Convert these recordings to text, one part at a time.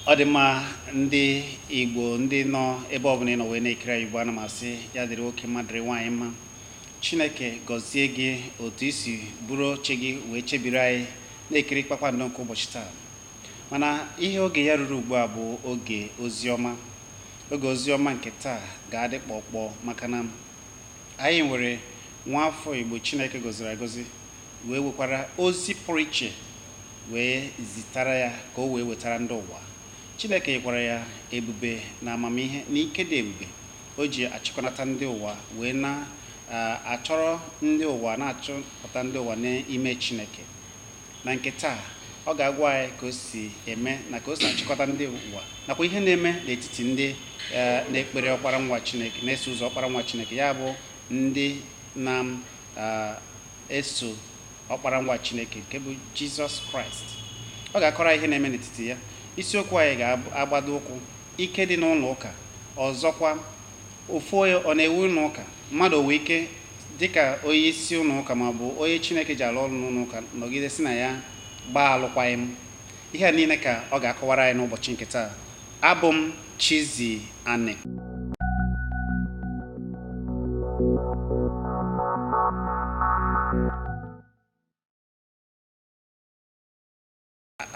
ọ dị mma ndị igbo ndị nọ ebe ọbụla ị nọ wee na-ekiri anyị ugbu ana m asị ya dịrị nwoke mma dịrị nwaanyị mma chineke gọzie gị otu i si buru oche gị wee chebiri anyị na-ekiri kpakpando nke ụbọchị taa mana ihe oge ya ruru ugbu a bụ oge ozi ọma oge ozi ọma nke taa ga-adị kpọkpọ maka na anyị nwere nwa afọ igbo chineke gọziri agọzi wee wekwara ozi pụrụ iche wee zitara ya ka o wee wetara ndị ụwa. Chineke nyekwara ya ebube na amamihe na ike dị ebube o ji achịkọnata ndị ụwa wee na, uh, achọrọ ndị ụwa, na-achọpụta ndị ụwa n'ime Chineke. Na nke taa, ọ ga-agwa anyị ka o si eme na ka o si achịkọta ndị ụwa nakwa ihe na-eme n'etiti ndị uh, na-ekpere ọkpara nwa Chineke, na-eso ụzọ ọkpara nwa Chineke, ya bụ ndị na eso ọkpara nwa Chineke nke bụ Jizọs Kraịst ọ ga-akọrọ ihe na-eme n'etiti ya isiokwu anyị ga-agbado ụkwụ ike dị n'ụlọ ụka ọzọkwa ofu onye ọ na-ewu ụlọ ụka mmadụ o nwere ike dịka onye isi ụlọ ụka ma ọ bụ onye Chineke ji alụ ọrụ n'ụlọ ụka nọgide sị na ya gbaa alụkwaghịm ihe a niile ka ọ ga-akọwara anyị n'ụbọchị nke taa Abụ m Chizzy Ani.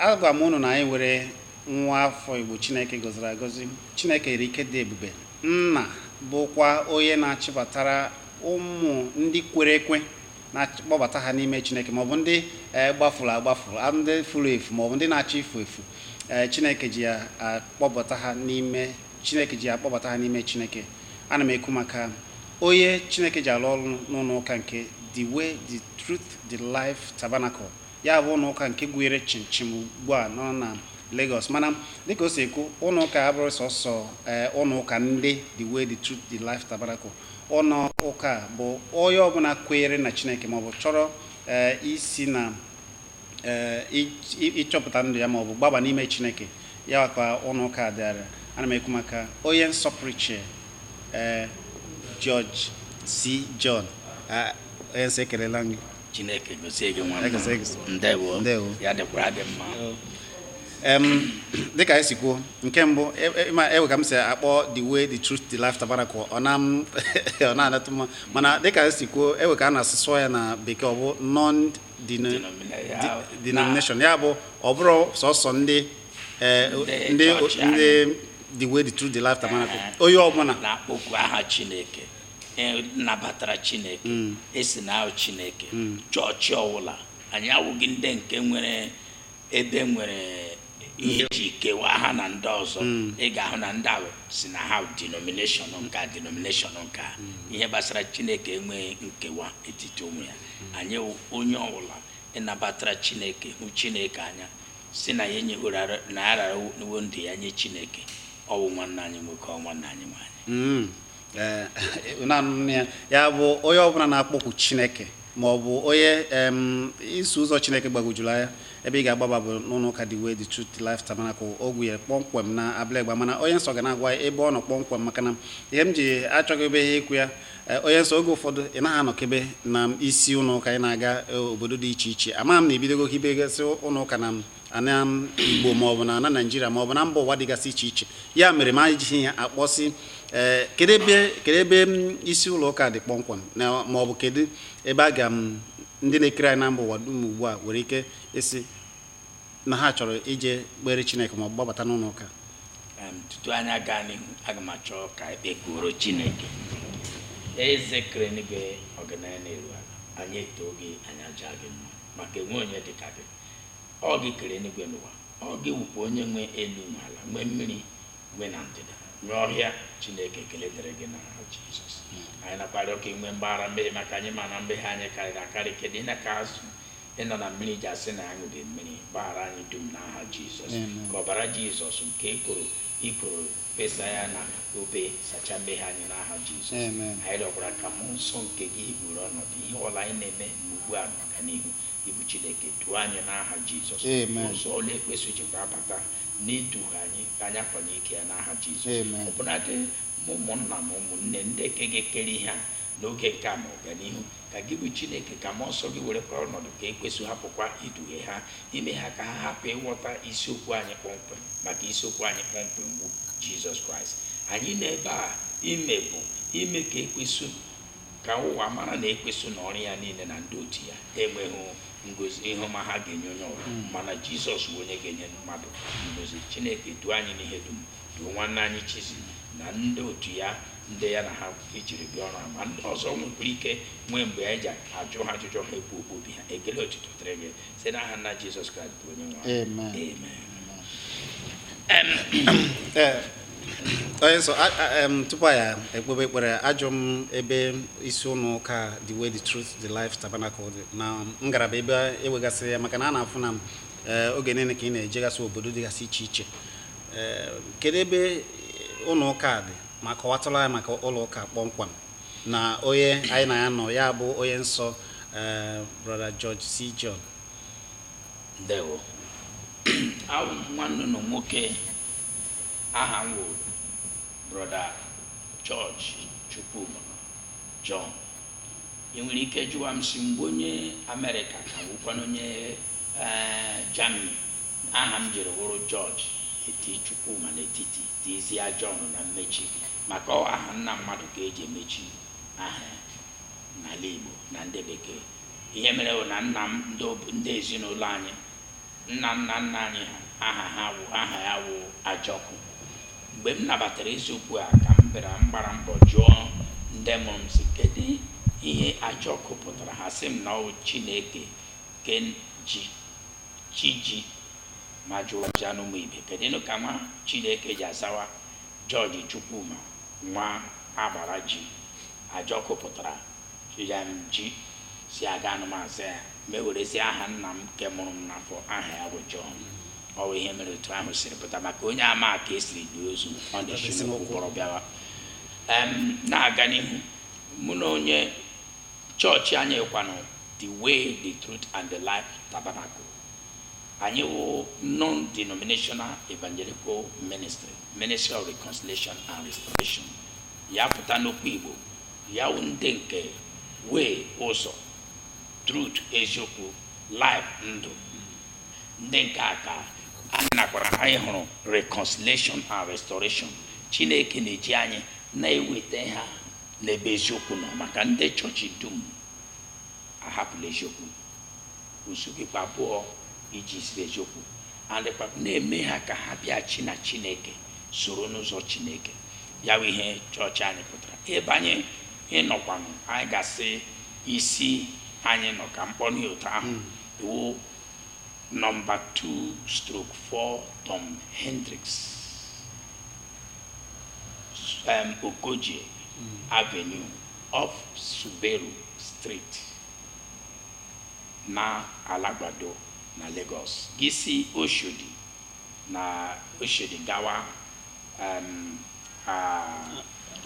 agwa m unu na anyị nwere nwa afọ igbo chineke gọziri agọzi chineke yiri ike dị ebube na-abụkwa onye na-achịbatara ụmụ ndị kwere ekwe na-akpọbata ha n'ime chineke maọbụ ndị eh, gbafuru agbafu a- ndị furu efu maọbụ ndị na-achọ ifu efu eh, chineke ji chineke ji ya akpọbata ha n'ime chineke ana m ekwu maka onye chineke ji alụ ọrụ n'ụlọ ụka nke the way the truth the life tabernacle ya bụ ụlọ ụka nke kwụrụ chịmchịm ugbu a nọ na Lagos mana dịka o si ekwu ụlọ ụka abụrọ sọsọ eh, ụlọ ụka ndị the way the truth the life tabernacle Ụnọ ụka a bụ onye ọbụla kwere na Chineke maọbụ chọrọ ee isi na ee ị- ị- ịchọpụta ndụ ya maọbụ gbaba n'ime Chineke ya ka ụnọ ụka a dịara ana m ekwu maka onye nsọ pụrụ iche ee George C. John Ah, onye nsọ ekelela m gị chineke gọzie gị nwa ndewo ya dịkwara gị mma dịka anyị si kwuo nke mbụ e, e, ma e wee ka m si akpọ the way the truth the life tabernacle ọ na-anatụ mma mana dịka anyị si kwuo e wee ka a na-asụsụ ya na bekee ọ bụ non denomination ya bụ ọ bụrọ sọsọ ndị eh, ndị the way the truth the life tabernacle eh, onye ọbụla na-akpọku aha chineke e, nabatara chineke mm. esi na ahụ chineke mm. chọọchị ọwụla anyị awụghị ndị nke nwere ebe nwere ihe ji kewa ha na ndị ọzọ mm. ị ga-ahụ na ndị ahụ sị na ha denomination nke a denomination nke a ihe gbasara chineke enweghị nkewa etiti onwe ya anyị onye ọwụla nabatara chineke hụ chineke anya sị na ya enyeworo na ararawo ndụ ya nye chineke ọwụ nwanne anyị nwoke ọ nwanne anyị nwaanyị Eh, eh, ya bụ onye ọbụla na-akpọkwu chineke ma ọ bụ onye iso ụzọ chineke gbagojuru anya ebe ị ga-agbaba bụ n'ụlọ ụka The Way The Truth The Life Tabernacle ogwu ya kpọmkwem na Abule Egba mana onye nsọ ga na-agwa ebe ọ nọ kpọmkwem maka na ihe m ji achọghị ebe ihe ikwu ya eh, onye nsọ oge ụfọdụ ị naghị anọkebe na isi ụlọ ụka ị na-aga obodo dị iche iche ama m na ebidogokwa hibegasị ụlọ ụka na ana igbo maọbụ na ana naịjirịa maọbụ na mba ụwa dịgasị iche iche ya mere m ejighị ya akpọsị ee eh, kedu ebe kedu ebe mm, isi ụlọ ụka dị kpọmkwem maọbụ kedu ebe a ga m mm, ndị na-ekiri anyị na mba ụwa dum ugbu a nwere ike ịsị na ha chọrọ ije kpere chineke maọbụ gbabata n'ụlọ ụka tutu anyị aga n'ihu aga m achọ ka ekpekuru chineke eze kere enigwe ọganaya na-eru ala anyị etoo gị anyị aja gị mma maka enwe onye dị ka gị ọ gị kere eluigwe na ụwa ọ gị wụkwa onye nwe elu na ala nwee mmiri nwee na ndịda nwee ọhịa chineke ekele dịrị gị na aha jizọs anyị nakwa arịọ ka inwee mgbaghara mmehie maka anyị ma na mmehie anyị karịrị akarị kedụ ịna ka azụ nọ na mmiri ji asị na anyị dị mmiri gbaghara anyị dum na aha jizọs Amen. ka ọbara jizọs nke ekoro ikoro fesa ya na obe sacha mmehie anyị na aha jizọs Amen. anyị rịọkwara ka mmụọ nsọ nke gị buru ọnọdụ ihe ọwụla anyị na-eme ugbu a ma ọganihu Ị bụ Chineke duo anyị n'aha Jizọs. Amen. Ụzọ ọwụla ekwensu jikwa abata n'iduhie anyị ka anyị akwanye ike ya n'aha Jizọs. Amen. Ọbụnadị ma ụmụnna ma ụmụnne ndị nke ga-ekere ihe a n'oge nke a ma ọganihu ka gị bụ Chineke ka mmụọ nsọ gị werekwa ọnọdụ ka ekwensu hapụkwa iduhie ha ime ha ka ha hapụ ịghọta isiokwu anyị kpọmkwem maka isiokwu anyị kpọmkwem bụ Jizọs Kraịst. Anyị nọ ebe a ime bụ ime ka ekwensu ka ụwa mara na ekwensu na ọrụ ya niile na ndị otu ya enweghị ngozi ihe ọma ha ga-enye onye ọwụla mana jizọs bụ onye ga-enye mmadụ ngozi chineke duo anyị n'ihe dum duo nwanne anyị chizi na ndị otu ya ndị ya na ha jiri bịa ọrụ a ma ndị ọzọ nwekwara ike nwee mgbe anyị ji ajụ ha ajụjụ ha ekwu okwu obi ha ekele otuto dịrị gị site n'aha nna jizọs kraịst bụ onye nwe anyị. Amen. Amen. Em, Ee, onye nsọ a- a- em, tupu anyị ekpebe ekpere ajụ m ebe isi ụlọ ụka the way the truth the life tabernacle dị na ngalaba ebe enwegasịrị ya maka na a na-afụ na ee, oge niile ka ị na-ejegasị obodo dịgasị iche iche Ee, kedu ebe ụlọ ụka a dị ma kọwatụlụ anyị maka ụlọ ụka kpọmkwem na onye anyị na ya nọ ya bụ onye nsọ eh, brọda George C. John ndewo awụ m nwanne unu nwoke aha m wụ brọda George Chukwuma John ị nwere ike jụwa m sị m bụ onye Amerịka ka wụkwanụ onye eh, Germany aha m jiri wụrụ George eti Chukwuma n'etiti tizie John na mmechi maka ọ aha nna mmadụ ka eji emechi aha ya n'ala Igbo na ndị bekee ihe mere bụ na nna m ndị ob- ndị ezinụlọ anyị nna nna nna anyị ha aha ha wụ aha ya wụ Ajọkụ mgbe m nabatara eziokwu a ka m bịara m gbara mbọ jụọ ndị mụrụ m sị kedu ihe Ajọkụ pụtara ha sị m na ọ wụ Chineke ke ji chi ji ma jụọchanụ ụmụ ibe kedụnụ ka nwa Chineke ji azawa George Chukwuma nwa agbara ji Ajọkụ pụtara ya m ji sị agaanụ m aza ya m ewerezie aha nna m nke mụrụ m n'afọ aha ya bụ John ọ bụ ihe mere otu ahụ siri pụta maka onye ama ka esiri lie ozu ọ na-esi n'ụkwụ kpọrọ bịawa Em, na-aga n'ihu mụ na onye chọọchị anyị kwanụ the way the truth and the life tabernacle Anyị wụ Non-Denominational Evangelical Ministry, Ministry of Reconciliation and Restoration. Ya pụta n'okwu Igbo, ya wụ ndị nke way ụzọ, truth eziokwu, life ndụ. Ndị nke a ka anyị nakwara anyị hụrụ reconciliation and restoration. Chineke na-eji anyị na-eweta ha n'ebe eziokwu nọ maka ndị chọọchị dum ahapụla eziokwu. Usu gị kwa abụọ iji ziri eziokwu and kwa na-eme ha ka ha bịaghachi na Chineke soro n'ụzọ Chineke. Ya bụ ihe chọọchị anyị pụtara. Ebe anyị nọkwanụ anyị ga-asị isi anyị nọ ka m kpọnụ otu ahụ ọ wụ nọmba 2 stroke 4 Tom Hendrix um, Okoje Avenue off Suberu Street. na Alagbado na Lagos gị si Oshodi na Oshodi gawa um, a,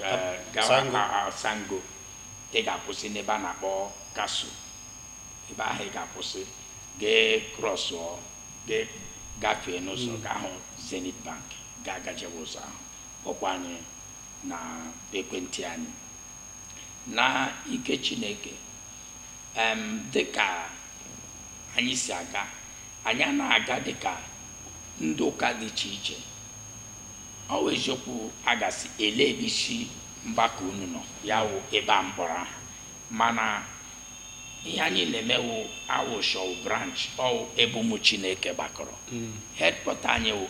a, gawa Sango. a, a, Sango ị ga-akwụsị n'ebe a na-akpọ Casso ebe ahụ ị ga-akwụsị gị ekrọsụọ gị agafee n'ụzọ gị ahụ Zenith Bank gị agajewe ụzọ ahụ kpọkwa anyị n'ekwentị anyị na ike Chineke em dịka anyị si aga anyị a na-aga dịka ndị ụka dị iche iche ọ wụ eziokwu a ga-asị ele ebe isi mgbakọ unu nọ ya wụ ebe a m kpọrọ aha mana ihe anyị na-emewu awụshọwụ branch ọwụ ebe ụmụ chineke gbakọrọ headquarter anyị wụ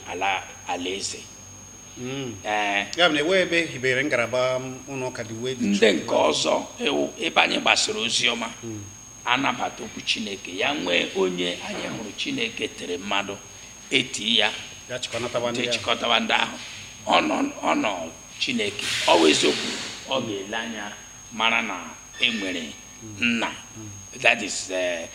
alaeze hmm. eh. ya bụ na ewe ebe hibere ngalaba ụlọ ụka The Way The ndị nke ọzọ wụ ebe anyị gbasara ozi ọma hmm. anabata okwu chineke ya nwee onye anyị hụrụ chineke tere mmanụ eti ya chịkọtawa ndị ahụ ọnụ chineke ọ bụ eziokwu ọ ga-ele anya mara na enwere nna that is eh,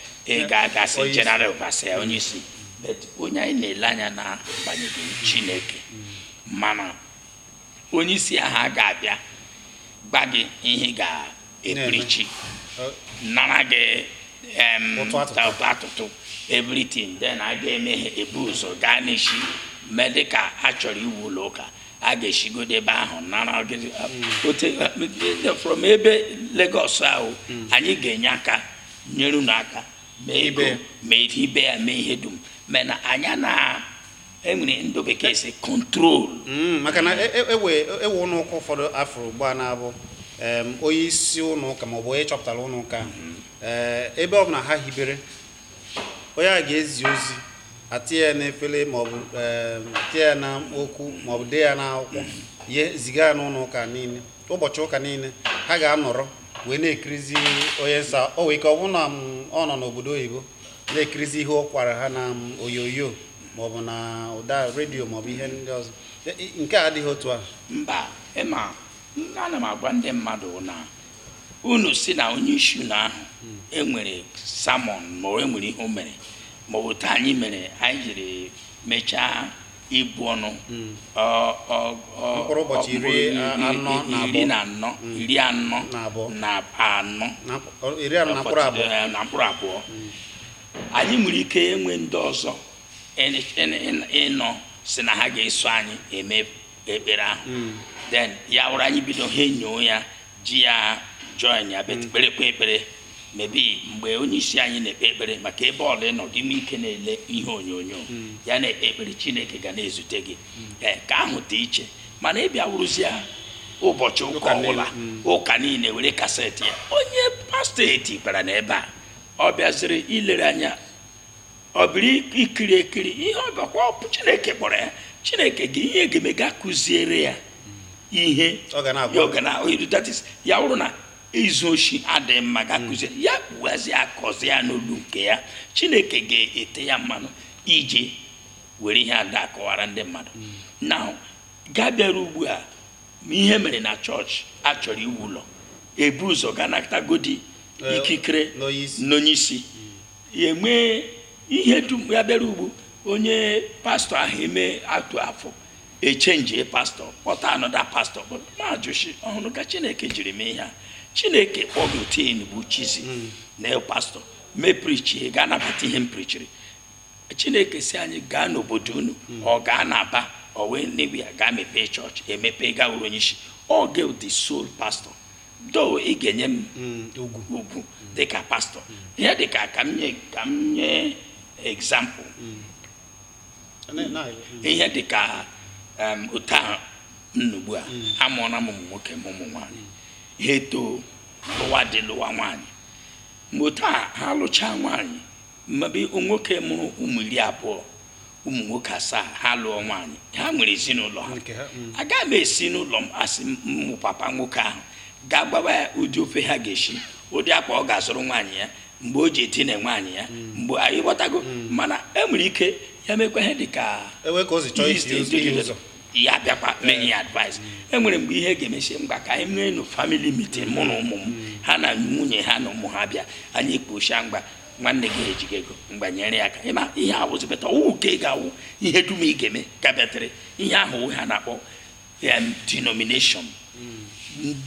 ka a ga-asị Onye isi. general overseer onye isi but onye anyị na-ele anya na agbanyeghị chineke mana onye isi ahụ a ga-abịa gwa gị ihe ị ga-eprichi Ọ- nara gị em, Ụtụ atụtụ. ụtụ atụtụ everything then a ga-eme ihe ebu ụzọ gaa n'isi mee dịka a chọrọ iwu ụlọ ụka a ga-esigodo ebe ahụ nara gị- ote ndị from ebe Lagos ahụ anyị ga-enye aka nyere unu aka mee ego Ibe. mee ihe ibe ya mee ihe dum mana anyị ana enwe ihe ndị bekee sị control Mm, maka na e- e- ewe ewe ụlọ ụka ụfọdụ a fụrụ ugbu a na-abụ em, onye isi ụlọ ụka maọbụ onye chọpụtara ụlọ ụka ahụ, eh, ebe ọ bụla ha hibere onye a ga-ezi ozi etinye ya n'efere maọbụ ehm, tinye ya na okwu maọbụ dee ya n'akwụkwọ e ziga ya n'ụlọ ụka niile ụbọchị ụka niile ha ga-anọrọ wee na-ekirizi onye nsọ o wee ike ọ bụrụ na mm, ọ nọ n'obodo oyibo na-ekirizi ihe ọ kọwara ha na mm, onyonyo maọbụ na ụda redio maọbụ ihe ndị ọzọ E- e- nke a adịghị otu ahụ mba ị ma ana m agwa ndị mmadụ na unu sị na onye isi unu ahụ enwere sermon ma o enwere ihe o mere maọbụ otu anyị mere anyị jiri mechaa ibu ọnụ ọ- ọ- ọ- Mkpụrụ ụbọchị iri iri- anọ iri- na iri abụọ. na anọ iri anọ Na abụọ. na anọ na mkp- iri anọ na mkpụrụ abụọ Eh, na mkpụrụ abụọ anyị nwere ike enwe ndị ọzọ ịn- ịn- ịn- ịnọ sị na ha ga-eso anyị eme ekpere ahụ then ya wụrụ anyị bido ha enyoo ya ji ya join ya but kperekwa ekpere maybe mgbe onye isi anyị na-ekpe ekpere maka ebe ọwụla ị nọ gị nwee ike na-ele ihe onyonyo ya na-ekpe ekpere chineke ga na-ezute gị ee nke ahụ dị iche mana ị bịa wụrụzia ụbọchị ụka Ụka niile, ọbụla mm. ụka niile were kaseti ya onye pastọ etibara n'ebe a ọ bịaziri ilere anya ọ bịara ikiri ekiri ihe ọ bịakwa ọ bụ chineke kpọrọ ya chineke gị ihe ga-eme ga-akụziere ya ihe Ọ ga na-agwa. ya ọ ga na that is ya wụrụ na izu oshi adịghị mma ga-akụziere ya kpughazi akọzi ya n'olu nke ya chineke ga-ete ya mmanụ iji were ihe ada akọwara ndị mmadụ na ga bịara ugbu a ma ihe mere na chọọchị a chọrọ iwu ụlọ e bu ụzọ gaa natagodi Eh, ikikere n'onyeisi ya enwee ihe dum ya bịara ugbu onye pastọ ahụ eme atụ afọ echenji pastọ kpọta anọda pastọ majụshi ọhụrụ ka chineke jiri mee ihe a chineke kpọgotin bụ chizi hmm. na pastọ m eprichi gị anabata ihe m prichiri chineke sị anyị gaa n'obodo unu hmm. ọ gaa n'aba ọ wee nnewi ya gaa mepee chọọchị emepee ga-awụrụ onye isi ọ ga the sole pastọ though ị ga-enye m mm, ugwu dịka pastọ ihe dịka ka m nye ka m nye egzampụl ihe dịka otu a m nọ ugbu a amụọna m ụmụ nwoke mụọ ụmụ nwaanyị ha etoo lụwa di lụwa nwaanyị mgbe otu a ha lụchaa nwaanyị maybe nwoke mụrụ ụmụ iri abụọ ụmụ nwoke asaa ha lụọ nwaanyị ha nwere ezinụlọ ha Nke ha, mm. agaghị m esi n'ụlọ m asị m wụ papa nwoke ahụ gaa gwawa ya ụdị ofe ha ga-esi ụdị akwa ọ ga-azụrụ nwaanyị ya mgbe o ji edina nwaanyị ya mgbe anyị ghọtago mana e nwere ike ya mekwa ihe dị ka ewe ka o si chọọ isi ụzọ ihe ụzọ ya bịakwa m enye ya advice e nwere mgbe ihe ga-eme m sị ngwa ka anyị mee nụ family meeting mụ na ụmụ m ha na nwunye ha na ụmụ ha bịa anyị ekwuchaa ngwa nwanne gị ejighị ego ngwa nyere ya aka ị ma ihe a wụzi but ọ wụ nke ị ga-awụ ihe dum ị ga-eme ka bịatere ihe ahụ wụ ha na-akpọ em, denomination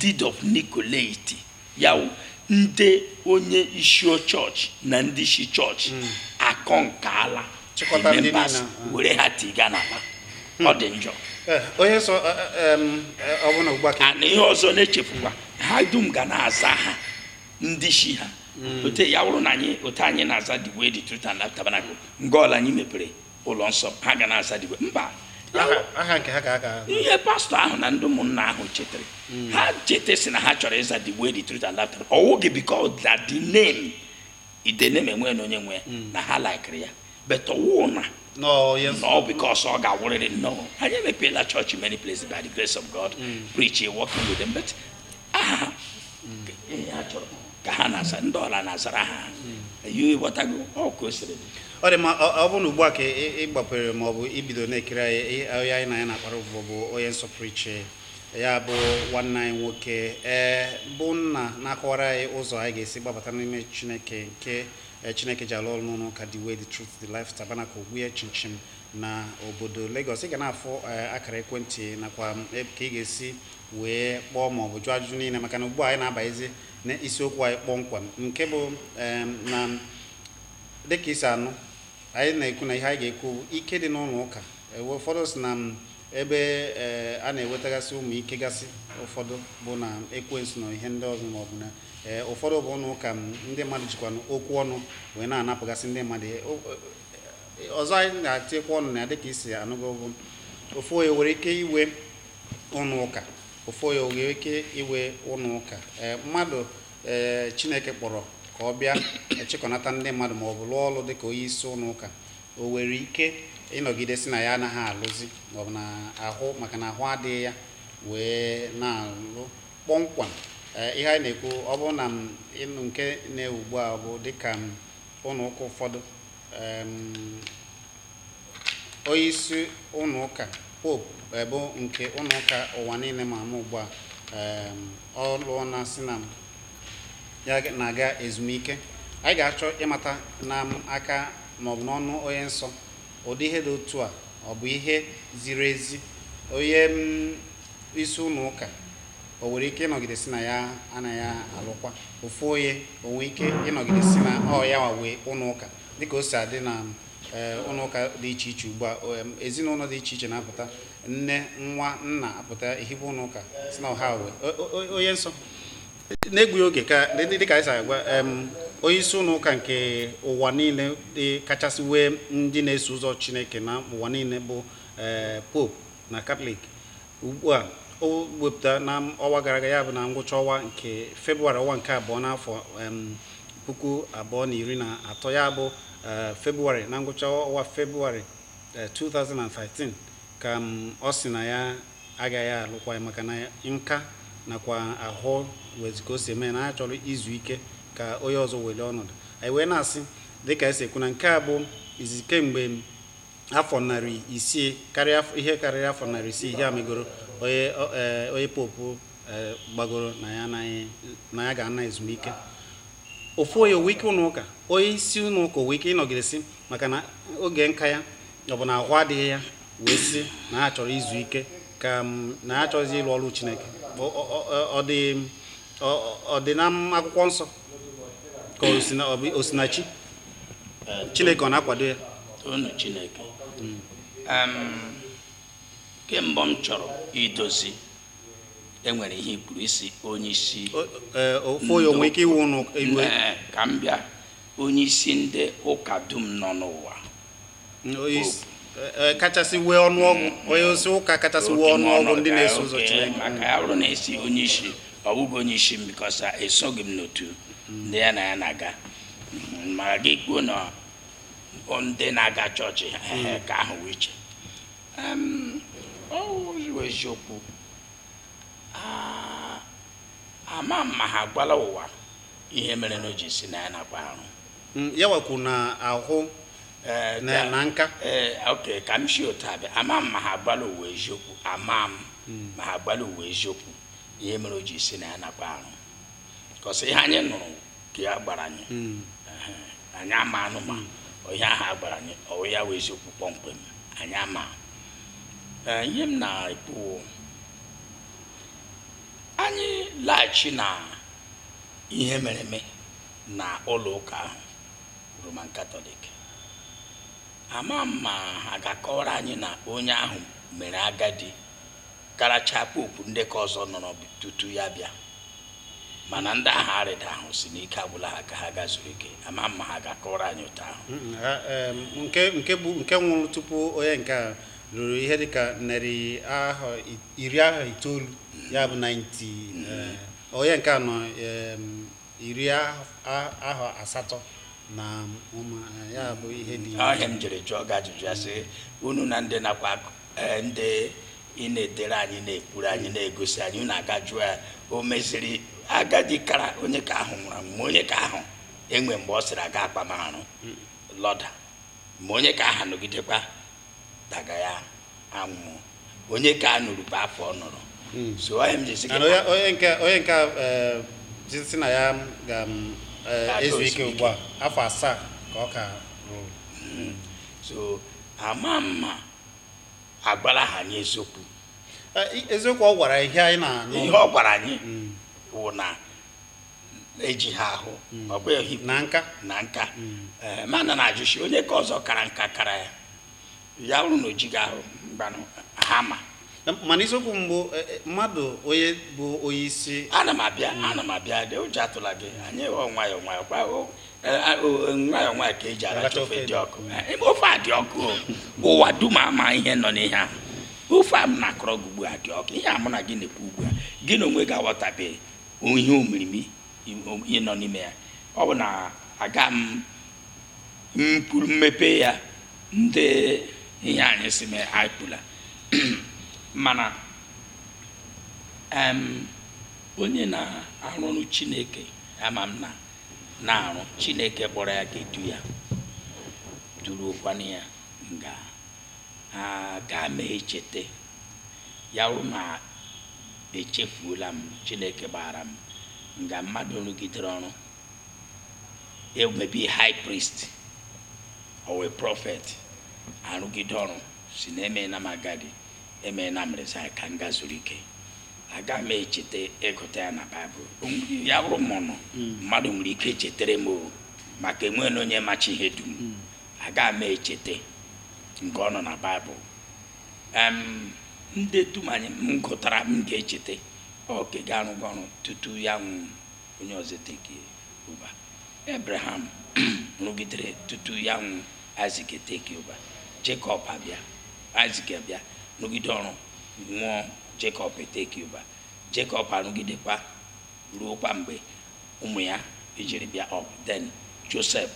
deed of Nicolaitan ya wụ ndị onye isi chọọchị na ndị isi chọọchị akọnkala Chịkọta ndị members niile, ah. were ha tiga n'akpa ọ dị njọ Eh, onye nsọ eh, eh, em, eh, ọ bụ na ugbu a ka ana ihe ọzọ na-echefukwa ha dum ga na-aza aha ndị isi ha hmm. otu ya wụrụ na anyị otu anyị na-aza the way the truth and life tabernacle nga ọwụla anyị mepere ụlọ nsọ ha ga na-aza the way mba ihe pastọ ahụ na ndị ụmụnna ahụ chetara hmm. ha cheta sị na ha chọrọ ịza the way the truth and life tabernacle ọ wụghị because that the name the name enwe na onye nwe hmm. na ha laikiri ya but ọ wụ na No, yes. No, because ọ ga-awụrịrị. No. anyị emepeela church in many places by the grace of God, mm. preaching, working with them. But aha ha nke ihe ha chọrọ ka ha na-aza ndị ọla na-azara ha eyi ịghọtago otu o siri dị. ọ dị mma ọ ọ bụrụ na ugbu a ka ị ị gbapere ma ọ bụ ibido na-ekiri anyị ị- onye anyị na ya na-akpara ụbụbọ bụ onye nsọ pụrụ iche ya bụ nwanne anyị nwoke ee bụ nna na-akọwara anyị ụzọ anyị ga-esi gbabata n'ime chineke nke eh, chineke ji alụ ọrụ n'ụlọ ụka the way the truth the life tabernacle ogbuye chinchin na obodo Lagos ị ga na-afụ eh, akara ekwentị nakwa ka ị ga-esi wee kpọọ ma ọ bụ jụọ ajụjụ niile maka na ugbu a anyị na-abanyezi na isiokwu anyị kpọmkwem nke bụ na dịka i si anụ anyị na-ekwu na ihe anyị ga-ekwu ike dị n'ụlọ ụka ụfọdụ si na ebe eh, a na-ewetagasị ụmụ ike gasị ụfọdụ bụ na ekwensu na ihe ndị ọzọ maọbụ na eh, ụfọdụ bụ ụlọ ụka ndị mmadụ jikwa okwu ọnụ wee na-anapụgasị ndị mmadụ eh, ọzọ anyị ga-etikwa ọnụ na ya dịka i si anụgo bụ ofu onye nwere ike inwe ụnọ ụka ofu onye nwere ike inwe ụnọ ụka ee mmadụ ee chineke kpọrọ ka ọ bịa achịkọnata ndị mmadụ ma ọ bụ lụọ ọrụ dị ka onye isi ụnọ ụka o nwere ike ịnọgide sị na ya anaghị alụzi ma ọ bụ na ahụ maka na ahụ adịghị ya wee na-alụ kpọmkwam ee ihe anyị na-ekwu ọ bụrụ na em ị nụ nke na-ewu ugbu a bụ dịka em ụnọ ụka ụfọdụ em, Onyeisi ụlọ ụka Pope eh, bụ nke ụlọ ụka ụwa niile ma ama ugbu a em, ọ lụọ na sị na ya ga- na-aga ezumike anyị ga-achọ ịmata na em aka maọbụ n'ọnụ onye nsọ ụdị ihe dị otu a ọ bụ ihe ziri ezi onye em, isi ụlọ ụka o nwere ike ịnọgide sị na ya anaghị alụkwa ofu onye o nwere ike ịnọgide sị na ọ ya nwe ụlọ ụka dịka o si adị na ee ụlọ ụka dị iche iche ugbu a o, em, ezinụlọ dị iche iche na-apụta nne nwa nna apụta ehibe ụlọ ụka sị na ọ ha nwe O- o- o- onye nsọ n'egbughị oge ka dị- dị- dịka anyị si agwa em, onye isi ụlọ ụka nke ụwa niile dị kachasị nwee ndị na-eso ụzọ chineke na ụwa niile bụ ee, pope na katọlik ugbu a o wepụta na ọnwa gara aga ya bụ na ngwụcha ọnwa nke febụwarị ọnwa nke abụọ n'afọ em, puku abụọ na iri na atọ ya bụ eh, febụwarị na ngwụcha ọnwa febụwarị eh, 2013 ka em, ọ sị na ya agaghị alụkwa ya maka na nka nakwa ahụ nwezi ka o si eme ya na ya chọrọ izu ike ka onye ọzọ welie ọnọdụ anyị wee na-asị dịka e si ekwu na nke a bụ izizi kemgbe afọ narị isii karịa afọ- ihe karịrị afọ narị isii ihe a megoro onye ọ- eh, onye popu eh, gbagoro na ya anaghị na ya ga-ana ezumike ofu onye o nwe ike ụlọ ụka onye isi ụlọ ụka o nwe ike ịnọgidesi maka na oge nka ya ọ bụ na ahụ adịghị ya wee sị na ya chọrọ izu ike ka na ya chọrọzi ịrụ ọrụ chineke Ọ- ọ- ọ- ọ dị ọ- ọ dị n'ime akwụkwọ nsọ ka o si na chi chineke ọ na-akwado ya unu chineke ke mbụ m chọrọ idozi enwere ihe i kwuru ị sị onye isi ofu ya o nwe ike iwu ụnụ ka m bịa onye isi ndị ụka dum nọ n'ụwa e, kachasị nwee ọnụọgụ onye isi ụka kachasị nwee ọnụọgụ ndị na-eso ụzọ Chineke maka ya bụrụ na ị sị onye isi ọ bụghị onye isi m because esoghị m n'otu ndị ya na ya na-aga ma gị kwuo na ndị na-aga chọọchị ke ahụ wụ iche ọ wụziwo eziokwu ama m ma ha gwala ụwa ihe mere na o ji sị na ya anakwa arụ Mm, ya wakwu na ahụ eh, na nka eh, ok ka m si otu a bịa ama m ma ha gwala ụwa eziokwu ama m mm. ma ha gwala ụwa eziokwu ihe mere o ji sị na ya anakwa arụ cause ihe anyị nụrụ ka a gwara anyị mm. anyị amanụ ma ihe ahụ a gwara anyị ọ wụ ya wụ eziokwu kpọmkwem anyị ama eh, ihe m na-ekwu anyị laghachi na ihe mere eme na ụlọ ụka ahụ roman katọlik ama m ma ha ga-akọwara anyị na onye ahụ mere agadi karacha popu ndị ke ọzọ nọrọ tutu ya bịa mana ndị ahụ arịdahụ sị na ike agwụla ha ka ha ga zuru ike ama m ma ha ga-akọwara anyị ụtọ ahụ nke nke bụ nke nwụrụ tupu onye nke a ruru ihe dịka narị ahọ iri ahọ itoolu ya bụ 90 mm-hmm. eh, onye nke a nọ iri ahọ asatọ na ụma ya bụ ihe dị ọhịa m jiri jụọ gị ajụjụ ya sị unu na ndị nakwa e, ndị na-edere anyị na-ekwuru anyị na-egosi anyị unu aga jụọ ya o meziri agadi karịa onye ke ahụ nwụrụ ma onye ke ahụ enwe mgbe ọ sịrị aga akpamarụ lọda ma onye ke ahụ nọgidekwa daga ya anwụ onye ke a nọrọ bụ afọ ọ nọrọ hmm. so onye m jisi gị onye nke onye nke eh, si na ya ga-ezu eh, ike ugbu a afọ asaa ka ọ ka hmm. so ama m ma agwara ha anyị eziokwu eh, eziokwu ọ gwara ihe anyị na-anụ ihe ọ gwara anyị hmm. wụ na eji ha ahụ ọ bụghị na nka na nka mana na-ajụsi onye ke ọzọ kara nka kara ya ya bụrụ na o jighị ahụ mgbanụ ha ma mana isiokwu mbụ e, e, mmadụ onye bụ onye isi ana m abịa ana m abịa dị ụjọ atụla gị anyị ghọọ nwayọọ nwayọọ kwa e, nwayọọ nwayọọ ka eji aracha ofe dị ọkụ ofe a dị ọkụ ụwa dum ama ihe nọ n'ihe a ofe a m na-akọrọ gị ugbu a dị ọkụ ihe a mụ na gị na-ekwu ugbu a gị na onwe gị aghọtabeghị ihe omirimi ihe nọ n'ime ya ọ bụ na aga m mmepe ya ndị ihe anyị si mee anyị ekwuola mana em, onye na-arụ ọrụ chineke ama m na na-arụ chineke kpọrọ ya ga-edu ya duruokwana ya nga aga m echete ya wụrụ ma echefuola m chineke gbaghara m nga mmadụ rụgidere ọrụ maybe high priest or a prophet arụgide ọrụ si na emeela m agadi emeela m resign ka m gaa zuru ike aga m echeta ịgụta ya na baịbụl O nwere- ya bụrụ ma ọ nọ mmadụ nwere ike chetere m o maka enweghị onye machi ihe dum aga m echeta nke ọ nọ na baịbụl em ndị dum anyị m gụtara m ga-echeta ọ ka ga-arụgo ọrụ tutu ya anwụ onye ọzọ etake over abraham rụgidere tutu ya anwụ isaac etake over jacob abịa isaac abịa rụgide ọrụ nwụọ jacob etake over jacob arụgidekwa ruokwa mgbe ụmụ ya ejiri bịa up then joseph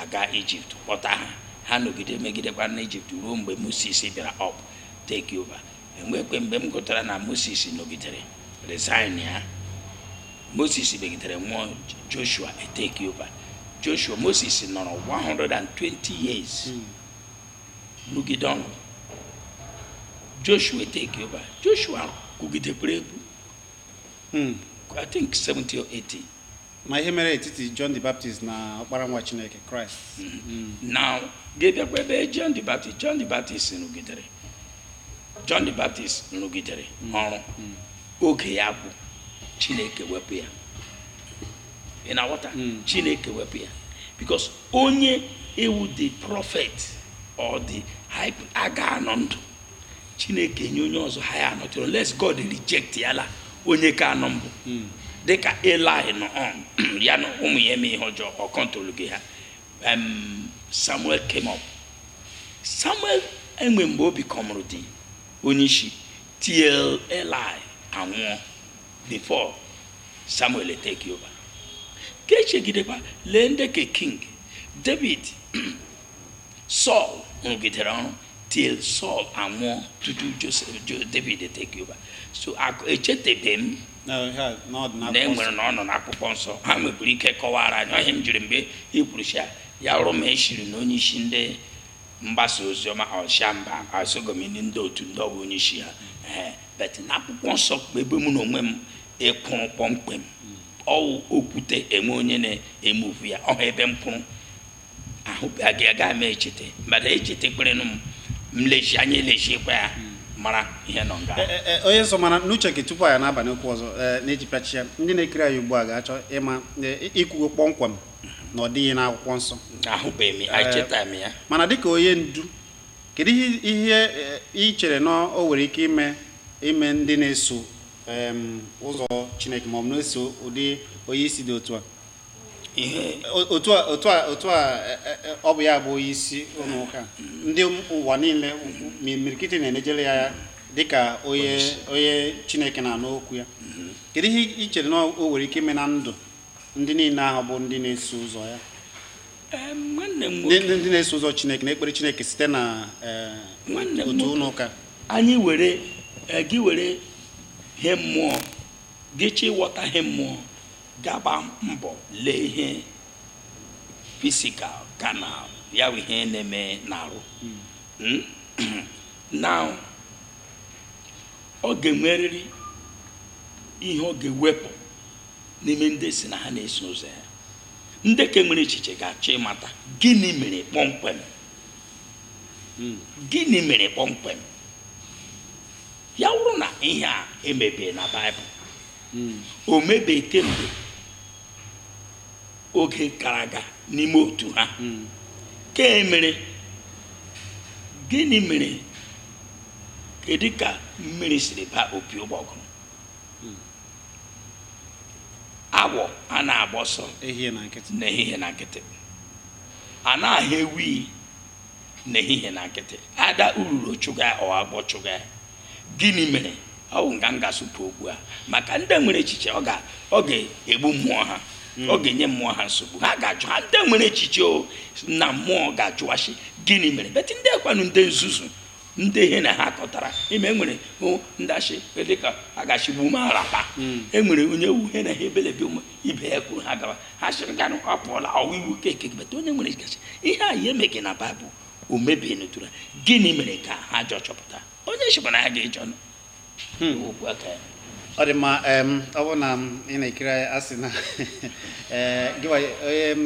aga egypt kpọta ha ha nọgide megidekwa n'egypt ruo mgbe moses bịara up take over enwekwe mgbe m gụtara na moses nọgidere resign ya moses megidere nwụọ joshua etake over joshua moses nọrọ 120 years rụgide ọrụ joshua etake over joshua kwugidekwara egwu i think 70 or 80 ma ihe mere etiti John the Baptist na ọkpara nwa Chineke Christ mm-hmm. now ga-abịakwa ebe John the Baptist John the Baptist rụgidere John the Baptist rụgidere mm-hmm. ọrụ mm-hmm. oge ya agwụ Chineke wepụ ya ị na-aghọta mm. Chineke wepụ ya because onye wụ the prophet or the high aga anọ ndụ chineke nye onye ọzọ ha ya anọtụrụ unless god rejectiala onye ke a nọ mbụ hmm. dịka eli nọ um, ya na ụmụ ya eme ihe ọjọọ ọ controlghị ha samuel came up samuel enwe mgbe o becomeuru the onye isi till eli anwụọ before samuel take over ka echegidekwa lee ndị ke king david saul rụgidere ọrụ till Saul anwụọ tutu David take over so echetebe m na e nwere na ọ nọ n'akwụkwọ nsọ ha nwekwara ike kọwara anyị ọ ihe m jiri mgbe i kwurusha ya ọrụ ma eshiri na onye isi ndị mgbasa ozi ọma ọsha mba asogomini ndị otu ndị ọ bụ onye isi ha ee but na akwụkwọ nsọ bụ ebe mụ na onwe m ịkwụrụ kpọmkwem ọ wụ okwute enwe onye na-emove ya ọ ha ebe m kwụrụ ahụbeghị aga m echete mmadụ echetekwerenụ m m lesie anya lesiekwa ya mara ihe nọ nga E- e- e, onye nsọ mana n'uche gị tupu anyị na-abanye okwu ọzọ ee, na-eji pịachie ndị na-ekiri anyị ugbu a ga-achọ ịma e, i kwugo kpọmkwem na ọ dịghị n'akwụkwọ nsọ ahụbeghị m ya echeta m ya mana dịka onye ndu kedu ihe ihe e, i chere na o nwere ike ime ime ndị na-eso em, ụzọ chineke ma ọ bụ na-eso ụdị onye isi dị otu a otu a otu a otu a e, e, e, ọ bụ ya bụ onye isi ụlọ ụka ndị ụwa niile imirikiti na-enejere ya anya dịka onye onye chineke na-anụ okwu ya kedu ihe i chere na o nwere ike ime na ndụ ndị niile ahụ bụ ndị na-eso ụzọ ya ndị na-eso ụzọ chineke na-ekpere chineke site na otu ụlọ ụka anyị were gị were ihe mmụọ gị chọ ịghọta ihe mmụọ ga-agba mbọ lee ihe physical carnal ya bụ ihe na-eme n'arụ Mm? na ọ ga-enwerịrị ihe ọ ga-ewepụ n'ime ndị sị na ha na-eso ụzọ ya ndị ka nwere echiche ga-achọ ịmata gịnị mere kpọmkwem gịnị mere kpọmkwem ya wụrụ na ihe a emebe na baịbụl hmm. o mebeghị kemgbe oge gara aga n'ime otu ha hmm. ka e mere gịnị mere kedu ka mmiri siri ba opi ụgbọgụrụ hmm. awọ a na-agba ọsọ n'ehihie na nkịtị a na-ahụ ewi n'ehihie na nkịtị either ururu chụga or agwọ chụga gịnị mere ọ bụ nga m ga-asụpụ okwu a maka ndị nwere echiche ọ ga- ọ ga-egbu mmụọ ha ọ ga-enye mmụọ ha nsogbu ha ga-ajụ ha ndị nwere echiche o na mmụọ ga-ajụwasi gịnị mere but ndị kwanụ ndị nzuzu ndị ihe na ha kọtara ime enwere o, ndị achị dịka a ga-achịgbu ume arapa enwere onye wu ihe na ha ebelebe ụmụ ibe ya kwuru ha gawa ha chịrị ganụ ọ pụọla ọwa iwu keke but onye nwere ga-asị ihe a ya emeghị na baịbụl o mebie n'otura gịnị mere ka ha jọ chọpụta onye chịkwa na ha ga-ejọ nụ hmm. okwu aka ya ọ dị mma ọ bụrụ na ị na-ekiri anyị a sị na eh, gịwa onye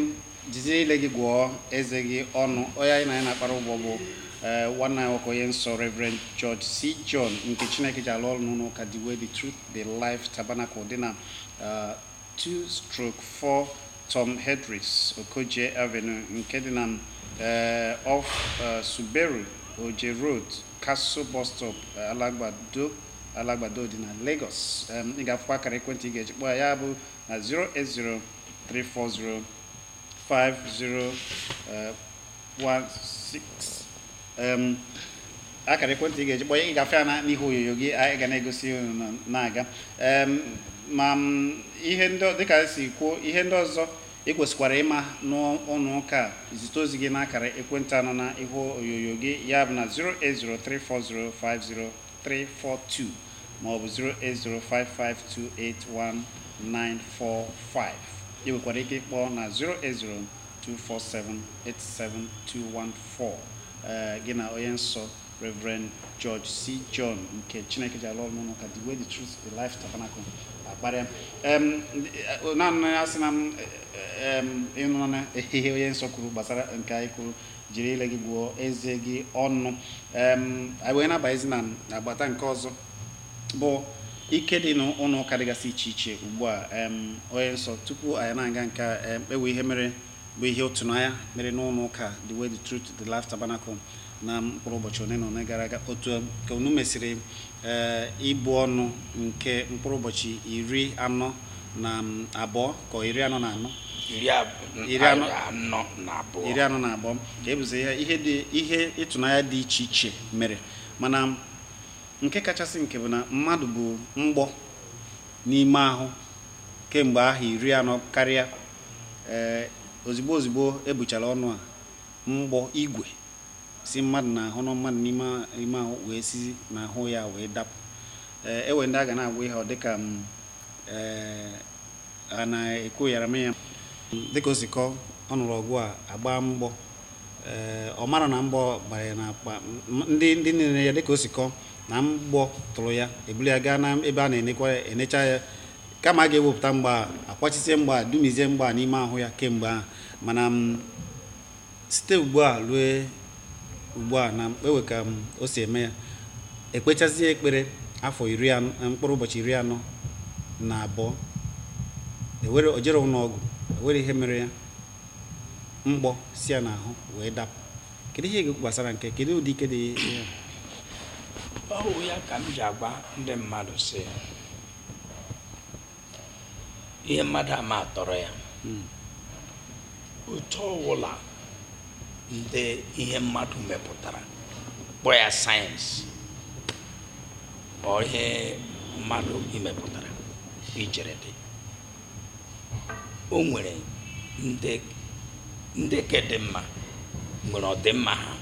jizi ile gị gụọ eze gị ọnụ onye anyị na ya na-akparị ụbụbọ bụ Eh, nwanne anyị nwoke onye nsọ Reverend George C. John nke Chineke ji alụ ọrụ n'ụlọ ụka The Way, The Truth, The Life Tabernacle dị na eh, 2/4 Tom Hedris Okojie Avenue nke dị na eh, off eh, Suberu Oje Road, Casso Bus Stop, eh, Alagbado Alagbado dị na Lagos. Em, Ị ga-afụkwa akara ekwentị ị ga-eji kpọọ ya ya bụ na 080 340 50 16 akara ekwentị ị ga-eji kpọọ ị ga-afụ ya n'ihu onyonyo gị anyị ga na-egosi na-aga ma ihe ndị dịka e si kwuo ihe ndị ọzọ ị kwesịkwara ịma n'ụlọ ụka zite ozi gị n'akara ekwentị a nọ na ihu onyonyo gị ya bụ na 08034050342 maọbụ 08055281945 ị nwekwara ike ịkpọ na 080 247-87214 ee gị na onye nsọ Reverend George C. John nke Chineke ji alụ ọrụ n'ụlọ ụka The Way, The Truth, The Life Tabernacle akparịa Em, ndị- eh, naanị ya sị na m eh, em, ị nụna ihe onye nsọ kwuru gbasara nke anyị kwuru jiri ile gị gụọ eze gị ọnụ Em, anyị wee na-abanyezi na agbata nke ọzọ bụ ike dị n'ụlọ ụka dịgasị iche iche ugbu a em, onye nsọ tupu anyị na-aga nke a em, e nwee ihe mere bụ ihe ịtụnanya mere n'ụlọ ụka The Way, The Truth, The Life Tabernacle na mkpụrụ ụbọchị one na one gara aga otu em, ka unu mesịrị ee ibu ọnụ nke mkpụrụ ụbọchị iri anọ na mm, abụọ ka ọ iri anọ na anọ iri ab- Iri anọ- anọ na abụọ iri anọ na abụọ ka e buzi ihe ihe dị ihe ịtụnanya dị iche iche mere mana Nke kachasị nke bụ na mmadụ bu mgbọ n'ime ahụ kemgbe ahọ iri anọ karịa. Ee, ozigbo ozigbo e buchara ọnụ a, mgbọ, igwe, si mmadụ n'ahụ nọ mmadụ n'ime ime ahụ wee si n'ahụ ya wee dapụ. Ee, e nwee ndị a ga na-agwa ihe ọ dị ka m ee, a na-ekwu yara m ya. Dịka o si kọọ, ọ nụrụ ọgụ a gbaa mgbọ. ee ọ mara na mgbọ gbara ya n'akpa ndị ndị nere ya dịka o si kọọ na mgbọ tụrụ ya ebuli ya gaa na ebe a na-enekwa ya enecha ya kama a ga-ewepụta mgbọ a akwachisie mgbọ a dumizie mgbọ a n'ime ahụ ya kemgbe ahụ mana m site ugbu a rue ugbu a na-ewe ka o si eme ya ekpechazie ekpere afọ mkpụrụ ụbọchị iri anọ na abụọ ewere o jere ụlọ ọgwụ ewere ihe mere ya mgbọ si ya n'ahụ wee dapụ kedu ihe ị ga-ekwu gbasara nke kedu ụdị ike dị ya ọ wụ ya ka m ji agwa ndị mmadụ sị ihe mmadụ amaa tọrọ ya hmm. otu ọwụla ndị ihe mmadụ mepụtara kpọ ya sayensị or ihe mmadụ mepụtara i chere dị o nwere ndị ke dị mma nwere ọdịmma ha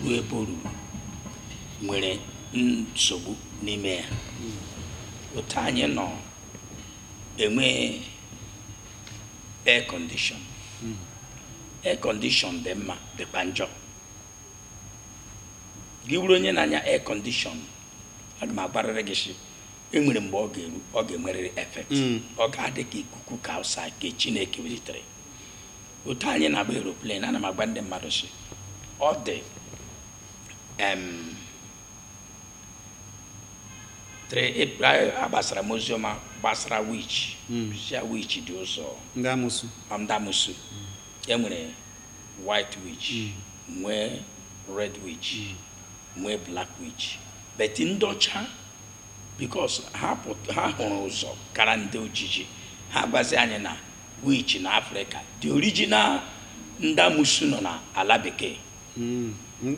ruo ebe o ruru nwere nsogbu n'ime ya otu anyị na-enwe air condition air condition dị mma dịkwa njọ gị wụrụ onye na-anya air condition aga m agwarịrị gị sị enwere mgbe ọ ga-eru ọ ga-enwerịrị effect mm. ọ ga-adị ka ikuku ke outside ke chineke welitere otu anyị na-agba aeroplane ana m agwa ndị mmadụ sị ọ dị agbasara m oziọma gbasara witch mm. sị ha witch dị ụzọ ndị amusu enwere white witch mm. nwee red witch nwee black witch but ndị ọcha because ha pụt- ha hụrụ ụzọ kara ndị ojiji ha gwazi anyị na witch na africa the original ndị amusu nọ na ala bekee Mm, mm,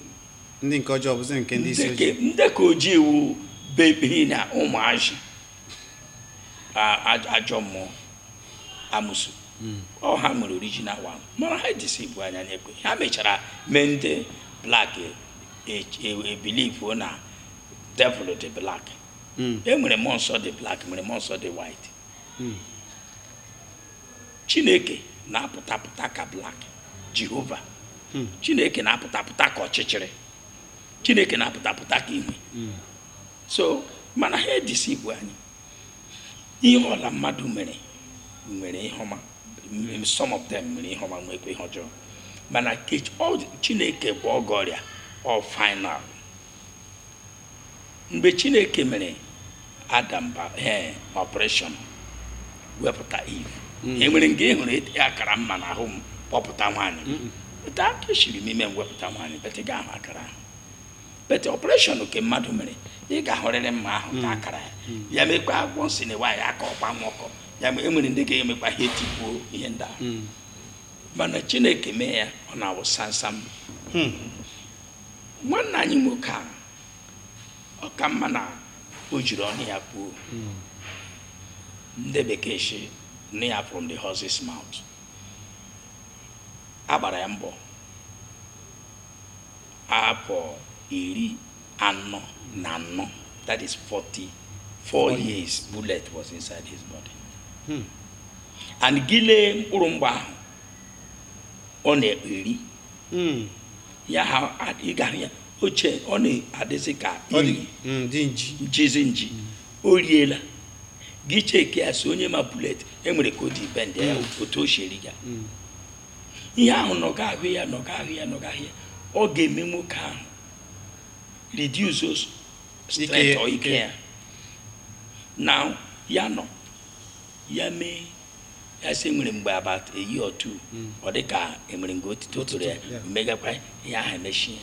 ndị nke ọjọọ bụzi nke ndị isi ojii ndị ke ojii wụ baby na ụmụazị a- a- ajọ mmụọ amusu ọ ha nwere original one mana ha edeceive anyị anyị ekwe ha mechara mee ndị black ebelieve na devil dị black hmm. e nwere mmụọ nsọ dị black nwere mmụọ nsọ dị white hmm. chineke na-apụta pụta ka black jehova hmm. chineke na-apụta pụta ka ọchịchịrị chineke na-apụta pụta ka ihe so mana ha edeceive anyị ihe ọla mmadụ mere nwere ihe ọma some of them nwere ihe ọma nwekwa ihe ọjọọ mana chineke bụ ọgwọ ọrịa ọ final mgbe chineke mere adam ba ee operation wepụta Eve enwere nga ị hụrụ ete akara mma n'ahụ m kpọpụta nwaanyị pụta aka esiri m ime m wepụta nwaanyị but ị ga-ahụ akara ahụ but operation nke mmadụ mere ị ga-ahụrịrị mma ahụ ka akara ya ya mekwa agwọ nsị na nwaanyị aka ọkwa nwa ọkọ ya ma enwere ndị ga-emekwa ihe tipuo ihe ndị ahụ mana chineke mee ya ọ na-awụ samsam nwanne anyị nwoke a ọ ka mma na o jiri ọnụ ya kwuo ndị bekee si na ya from the horse's mouth a gbara ya mgbọ afọ iri anọ na anọ that is 44 years bullet was inside his body and gile mkpụrụ mgbọ ahụ ọ na-ekpe iri Mm. ya ha a- ị gara ya oche ọ na-adịzi ka Ọ dị- mm, dị nji njizi nji o riela gị cheki ya si onye ma bullet enwere ka o dị bend ya otu o sheri ga Mm. ihe ahụ nọga ahụ ya nọga ahụ ya nọga ahụ ya ọ ga-eme nwoke ahụ reduce those strength Ike- or ike ike. ya na ya nọ ya mee ya sị nwere mgbe about a year or two hmm. ọ dị ka enwere nga otito tụrụ ya megakwa ihe ahụ emechie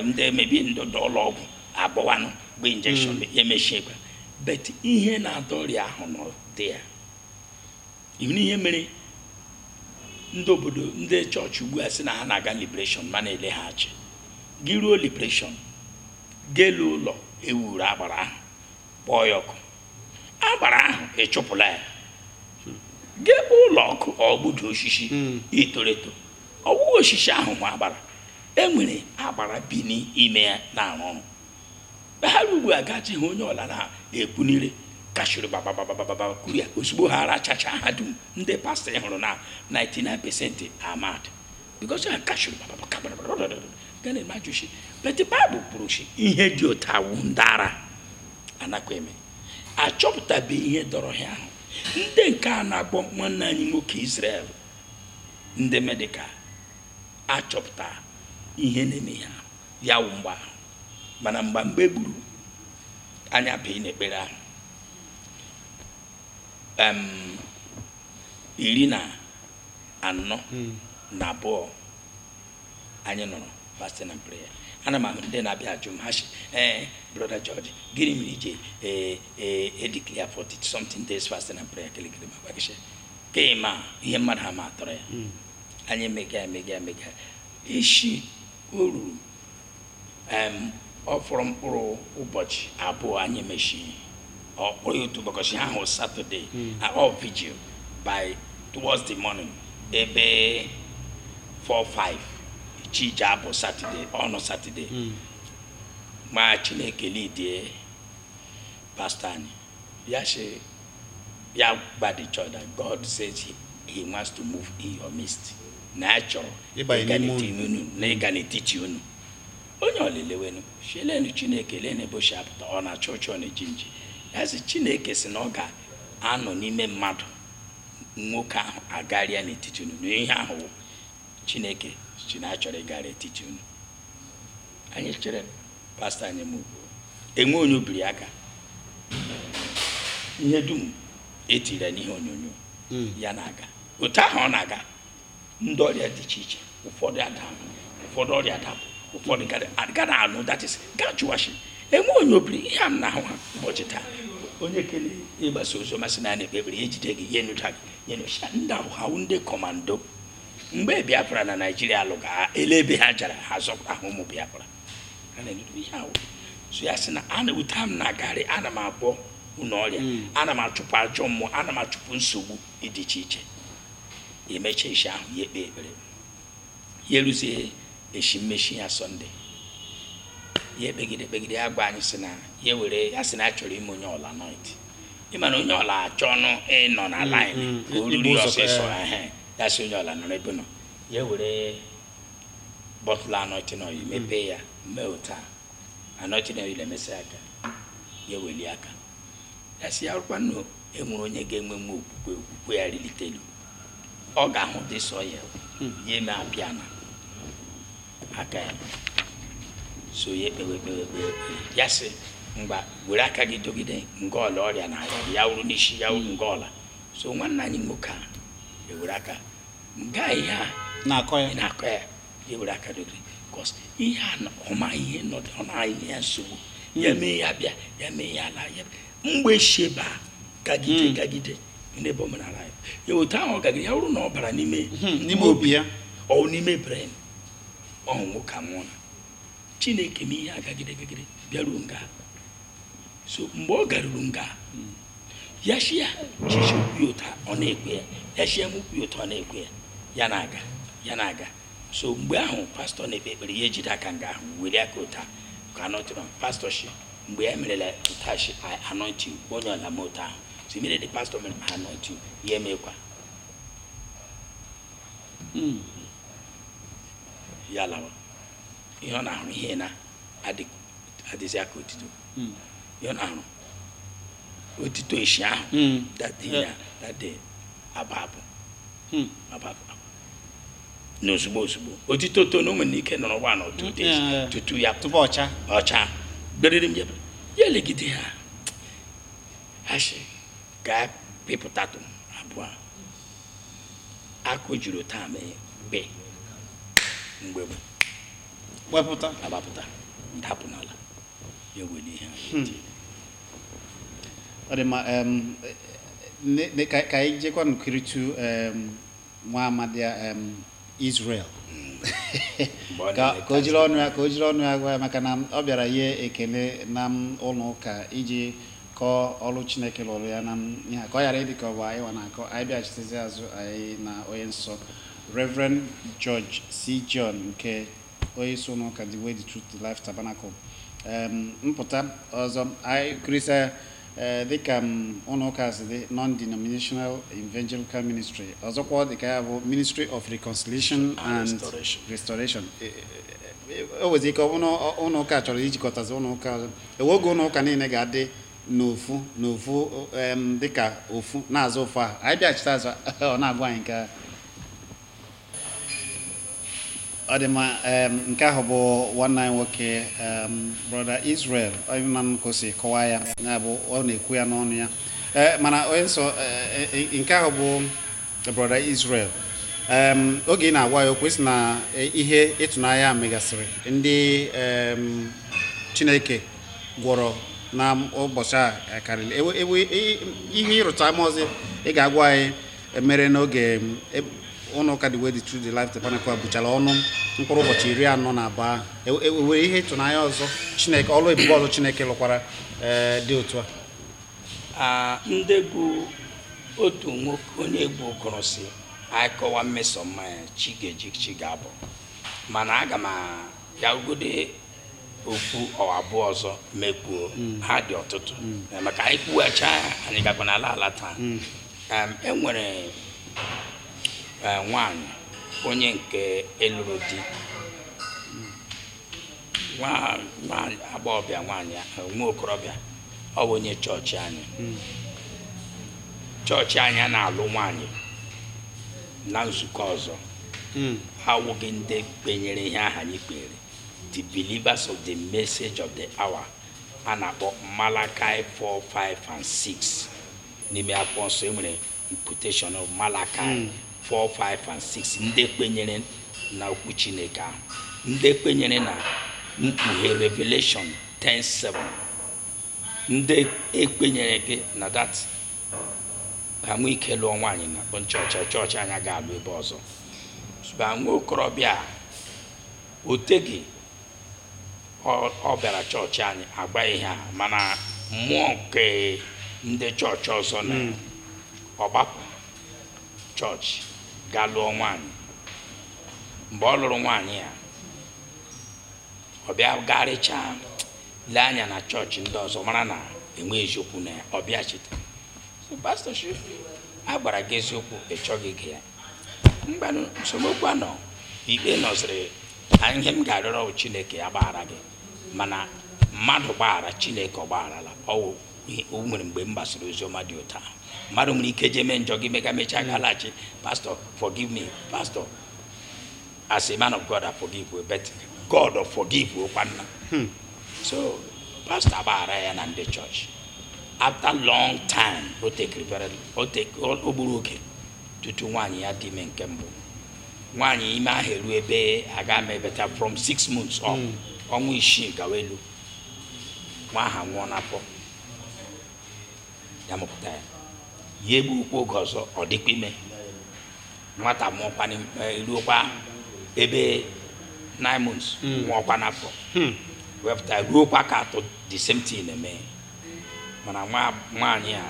ndị emebi ndị ụlọ ọgwụ abịawanụ gbaa injection hmm. ya emechiekwa but ihe na-adọ ọrịa ahụ nọ dị ya ị hụ ihe mere ndị obodo ndị chọọchị ugbu a sị na ha na-aga liberation ma na-eleghachi gị ruo liberation ga lee ụlọ ewuru agbara ahụ kpọọ ya ọkụ agbara ahụ ị chụpụla ya gị gbaa ụlọ ọkụ ọ gbudo osisi hmm. toro eto ọ wụwa osisi ahụ nwa agbara enwere agbara bi n'ime ya na-arụ ọrụ ha ugbu a gaji ha onye ọla na-ekwu n'ire kashiri bababababa kuru ya ozugbo ha ara chacha ha dum ndị pastọ ị hụrụ na 99 percent are mad because ha kashiri gana eme ajụchi but the Bible kwuru si ihe dị otu a wụ ndị ara anakwa eme achọpụtabe ihe dọrọ ha ahụ ndị nke a na-agwọ nwanne anyị nwoke Israel ndị medical achọpụta ihe na-eme ha ya wụ mgbọ ahụ mana mgbe mgbe gburu anya bee n'ekpere ahụ iri na anọ hmm. na abụọ anyị nọrọ fasting and prayer ana m ahụ ndị na-abịa ajụ m ha si ee eh, brother George gịnị mere i ji ee ee edeclare 40 something days fasting and prayer kirikiri m agwa gị sị ka ị ma ihe mmadụ ha ma atọrọ ya hmm. anyị emega emega emega echi o ruru ọ fọrọ mkpụrụ ụbọchị abụọ anyị emechie ọ kpọrọ ya otu ụbọchị ahụ Saturday all vigil by towards the morning ebe 4 5 chi ji abọ Saturday on Saturday hmm. ma chineke lidie pastọ anyị ya sị ya gwa the church that God says he wants to move in your midst na ya chọrọ ịga n'etiti unu onye ọla elewenụ shị lenụ chineke lenụ ebe o shi apụta ọ na-acha ọcha ọ na-eji nji ya sị chineke sị na ọ ga-anọ n'ime mmadụ nwoke ahụ agarịa n'etiti unu na ihe ahụ wụ chineke sị na ya chọrọ ịgarị etiti unu anyị chere pastọ anyị m ugbo enwe onye o biri aka ihe dum e tiri ya n'ihe onyonyo hmm. ya na-aga otu ahụ ọ na-aga ndị ọrịa dị iche iche ụfọdụ adahụ ụfọdụ ọrịa adapụ ụfọdụ ga na-anụ that is ga chụwachi enwe onye o biri ihe a m na-ahụ ha ụbọchị taa onye kele ịgbasa ozi ọma sị na anyị ekpebiri ya ejide gị ya enyocha gị ya enyocha ndị ahụ ha ndị kọmando mgbe biafra na naijiria lụga ele ebe ha jara ha zọpụta ha ụmụ biafra a na-egodo ihe ahụ so ya sị na otu a m na-agarị ana m agwọ unu ọrịa hmm. ana m achụpụ ajọ mmụọ ana m achụpụ nsogbu dị iche iche e mechaa isi ahụ ya ekpe ekpere ya eruzie eshi mmechi ya sọnde ya ekpegide ekpegide ya gwa anyị sị na ya were ya sị na ya chọrọ ime onye ọla anoint ịma na onye ọla achọwanụ ịnọ na line hmm, hmm. ka o ruru ọsịsọ eh. ya sị onye ọla nọrọ ebe ọ nọ ya were bottle anointing oil mepee ya mee otu a anointing oil emesịa aka ya eweli aka ya sị ya wụrụkwa na e nwere onye ga-enwe nwe okwukwe okwukwe ya rilite elu ọ ga-ahụ this oil ya eme appear na aka ya so ya ekpewe ekpewe ekpewe ekpewe. ya sị ngwa were aka gị dogide nga ọla ọrịa na-arịa gị, ya wụrụ n'isi ya wụrụ nga ọla so nwanne anyị nwoke a ewere aka nga ihe a na-akọ ya na-akọ ya ya were aka dogide because ihe a ọma ihe nọdụ ọ na-ahụ ihe ya nsogbu ya hmm. mee ya bịa ya mee ya ala ya mgbe esi ebe a gagide hmm. gagide n'ebe omenala ya ya otu ahụ ọ gagide ya bụrụ na ọ bara n'ime hmm, n'ime obi ya ọ n'ime brain ọ wụ nwoke a anwụọ mana chineke mee ihe a gagide gagide bịaruo nga so mgbe ọ garuru nga ya shi ya chichi ụkwụ ụta ọ na-ekwe ya ya shi ya m ụkwụ ụta ọ na-ekwe ya ya na-aga ya na-aga so mgbe ahụ pastọ na-ekpe ekpere ya ejide aka nga ahụ were aka ụta ka anọtụrụ pastọ shi mgbe ya merela ụta shi anoint onye ọla m ụta ahụ so mere the pastọ mere anoint ya emekwa hmm. ya lawa ihe ọ na-ahụ ihe na-adịghị adịzi ya ka otito hmm. ihe ọ na-ahụ otito isi ahụ hmm. that day aba abụ hmm. aba abụ na ozugbo ozugbo otito to na o nwere ike nọrọ one or two days tupu ọ chaa ọcha beriri m ya elegide ha asị ka pịpụtatụ abụ akụ juru taa mee mgbe mgbe wepụta agbapụta dapụ n'ala ya were ihe hmm. ọ dị mma ka anyị jekwanụ kiritu nwa amadi Israel hmm. ka o jiri ọnụ ya ka o jiri ọnụ ya gwa ya maka na ọ bịara inye ekele na ụlọ ụka iji kọọ ọrụ Chineke lụrụ ya na ihe ka ọ ghara ịdị ka ọ bụ anyị wa na-akọ anyị bịachitezi azụ anyị na onye nsọ Reverend George C. John nke onye isi ụlọ ụka The Way, the Truth, the Life Tabernacle Em, mpụta ọzọ anyị kirisa ee, dịka m, ụlọ ụka si dị non-denominational evangelical ministry ọzọkwa ọ dịka ya bụ ministry of reconciliation and restoration. E- e- e- o nwezi ike ọ bụrụ na ọ- ụlọ ụka chọrọ ijikọtazi ụlọ ụka ọzọ e nwee oge ụlọ ụka niile ga-adị n'ofu n'ofu em, dịka ofu na-azụ ofu ahụ anyị bịachite azụ ọ na-agwa anyị nke a. ọ dị mma em, nke ahụ bụ nwanne anyị nwoke em, brọda Israel onye na m ka o si kọwaa ya ya bụ ọ na-ekwu ya n'ọnụ ya Eh, mana onye nsọ eh, eh, eh, nke ahụ bụ brọda Israel Em, oge ị na-agwa ya okwu ị sị na eh, ihe ịtụnanya megasịrị ndị em, Chineke gwọrọ na ụbọchị a karịrị Ewe- ewe- i- ihe ịrụta ama ọzọ ị ga-agwa anyị mere n'oge m, e- ụlọ ụka The Way the Truth the Life Tabernacle a buchara ọnụ mkpụrụ ụbọchị iri anọ na abụọ ahụ. Ewe- ewe- e nwere ihe ịtụnanya ọzọ Chineke ọlụ ebube ọzọ Chineke lụkwara ee, dị otu a Ah, ndị egwu otu nwoke onye egwu kwuru sị anyị kọwa mmeso mma ya chi ga-eji chi ga-abọ mana aga m akọgode okwu abụọ ọzọ mekwuo hmm. ha dị ọtụtụ hmm. eh, maka anyị kwuwecha anyị gakwa n'ala ala taa hmm. e nwere eh, nwaanyị onye nke a lụrụ di agbọghọbịa nwaanyị eh, nwa okorobịa ọ bụ onye chọọchị anyị chọọchị anyị anaghị alụ nwaanyị na nzukọ ọzọ ha awụghị ndị kpenyere ihe aha anyị kpenyere the believers of the message of the hour a na-akpọ Malachi 4 5 and 6 n'ime akwụkwọ nsọ e nwere imputation of Malachi 4 5 and 6 ndị kwenyere na okwu Chineke ahụ ndị kwenyere na mkpughe Revelation 10 7 ndị ekwenyereghị na that enwe ike lụọ nwaanyị na chọọchị chọọchị anyị aga-alụ ebe ọzọ but nwa okorobịa a o teghị ọ- ọ bịara chọọchị anyị agba ihe a mana mmụọ nke ndị chọọchị ọzọ na ọ gbapụ chọọchị gaa lụọ nwaanyị mgbe ọ lụrụ nwaanyị ya ọ bịa garịchaa lee anya na chọọchị ndị ọzọ mara na enwe eziokwu na ya ọ bịachite pastọ sị a gwara gị eziokwu ị chọghị ige ya ngwanụ nsogbu anọ ikpe nọziri ihe m ga-arịọrọ chineke ya gbaghara gị mana mmadụ gbaghara chineke ọ gbagharala o nwere mgbe m gbasara ozi ọma dị otu a mmadụ nwere ike jee mee njọ gị mega mechaa gị alachi pastọ forgive me pastọ as a man of God I forgive you but God ọ forgive you kwana hmm. so pastọ agbaghara ya na ndị chọọchị after long time o tekiri o gburu oge tutu nwaanyị ya dị ime nke mbụ nwaanyị ime ahụ eru ebe a ga ama ebeta from six months ọ hmm. ọnwa isii gawa elu nwa aha nwụọ n'afọ ya mụpụta ya ya egbukwu oge ọzọ ọ dịkwa ime nwata mụọkwa eh, ruokwa ebe nine months hmm. nwụọkwa n'afọ hmm. wepụta ruokwa nke atọ the same thing eme mana nwaanyị a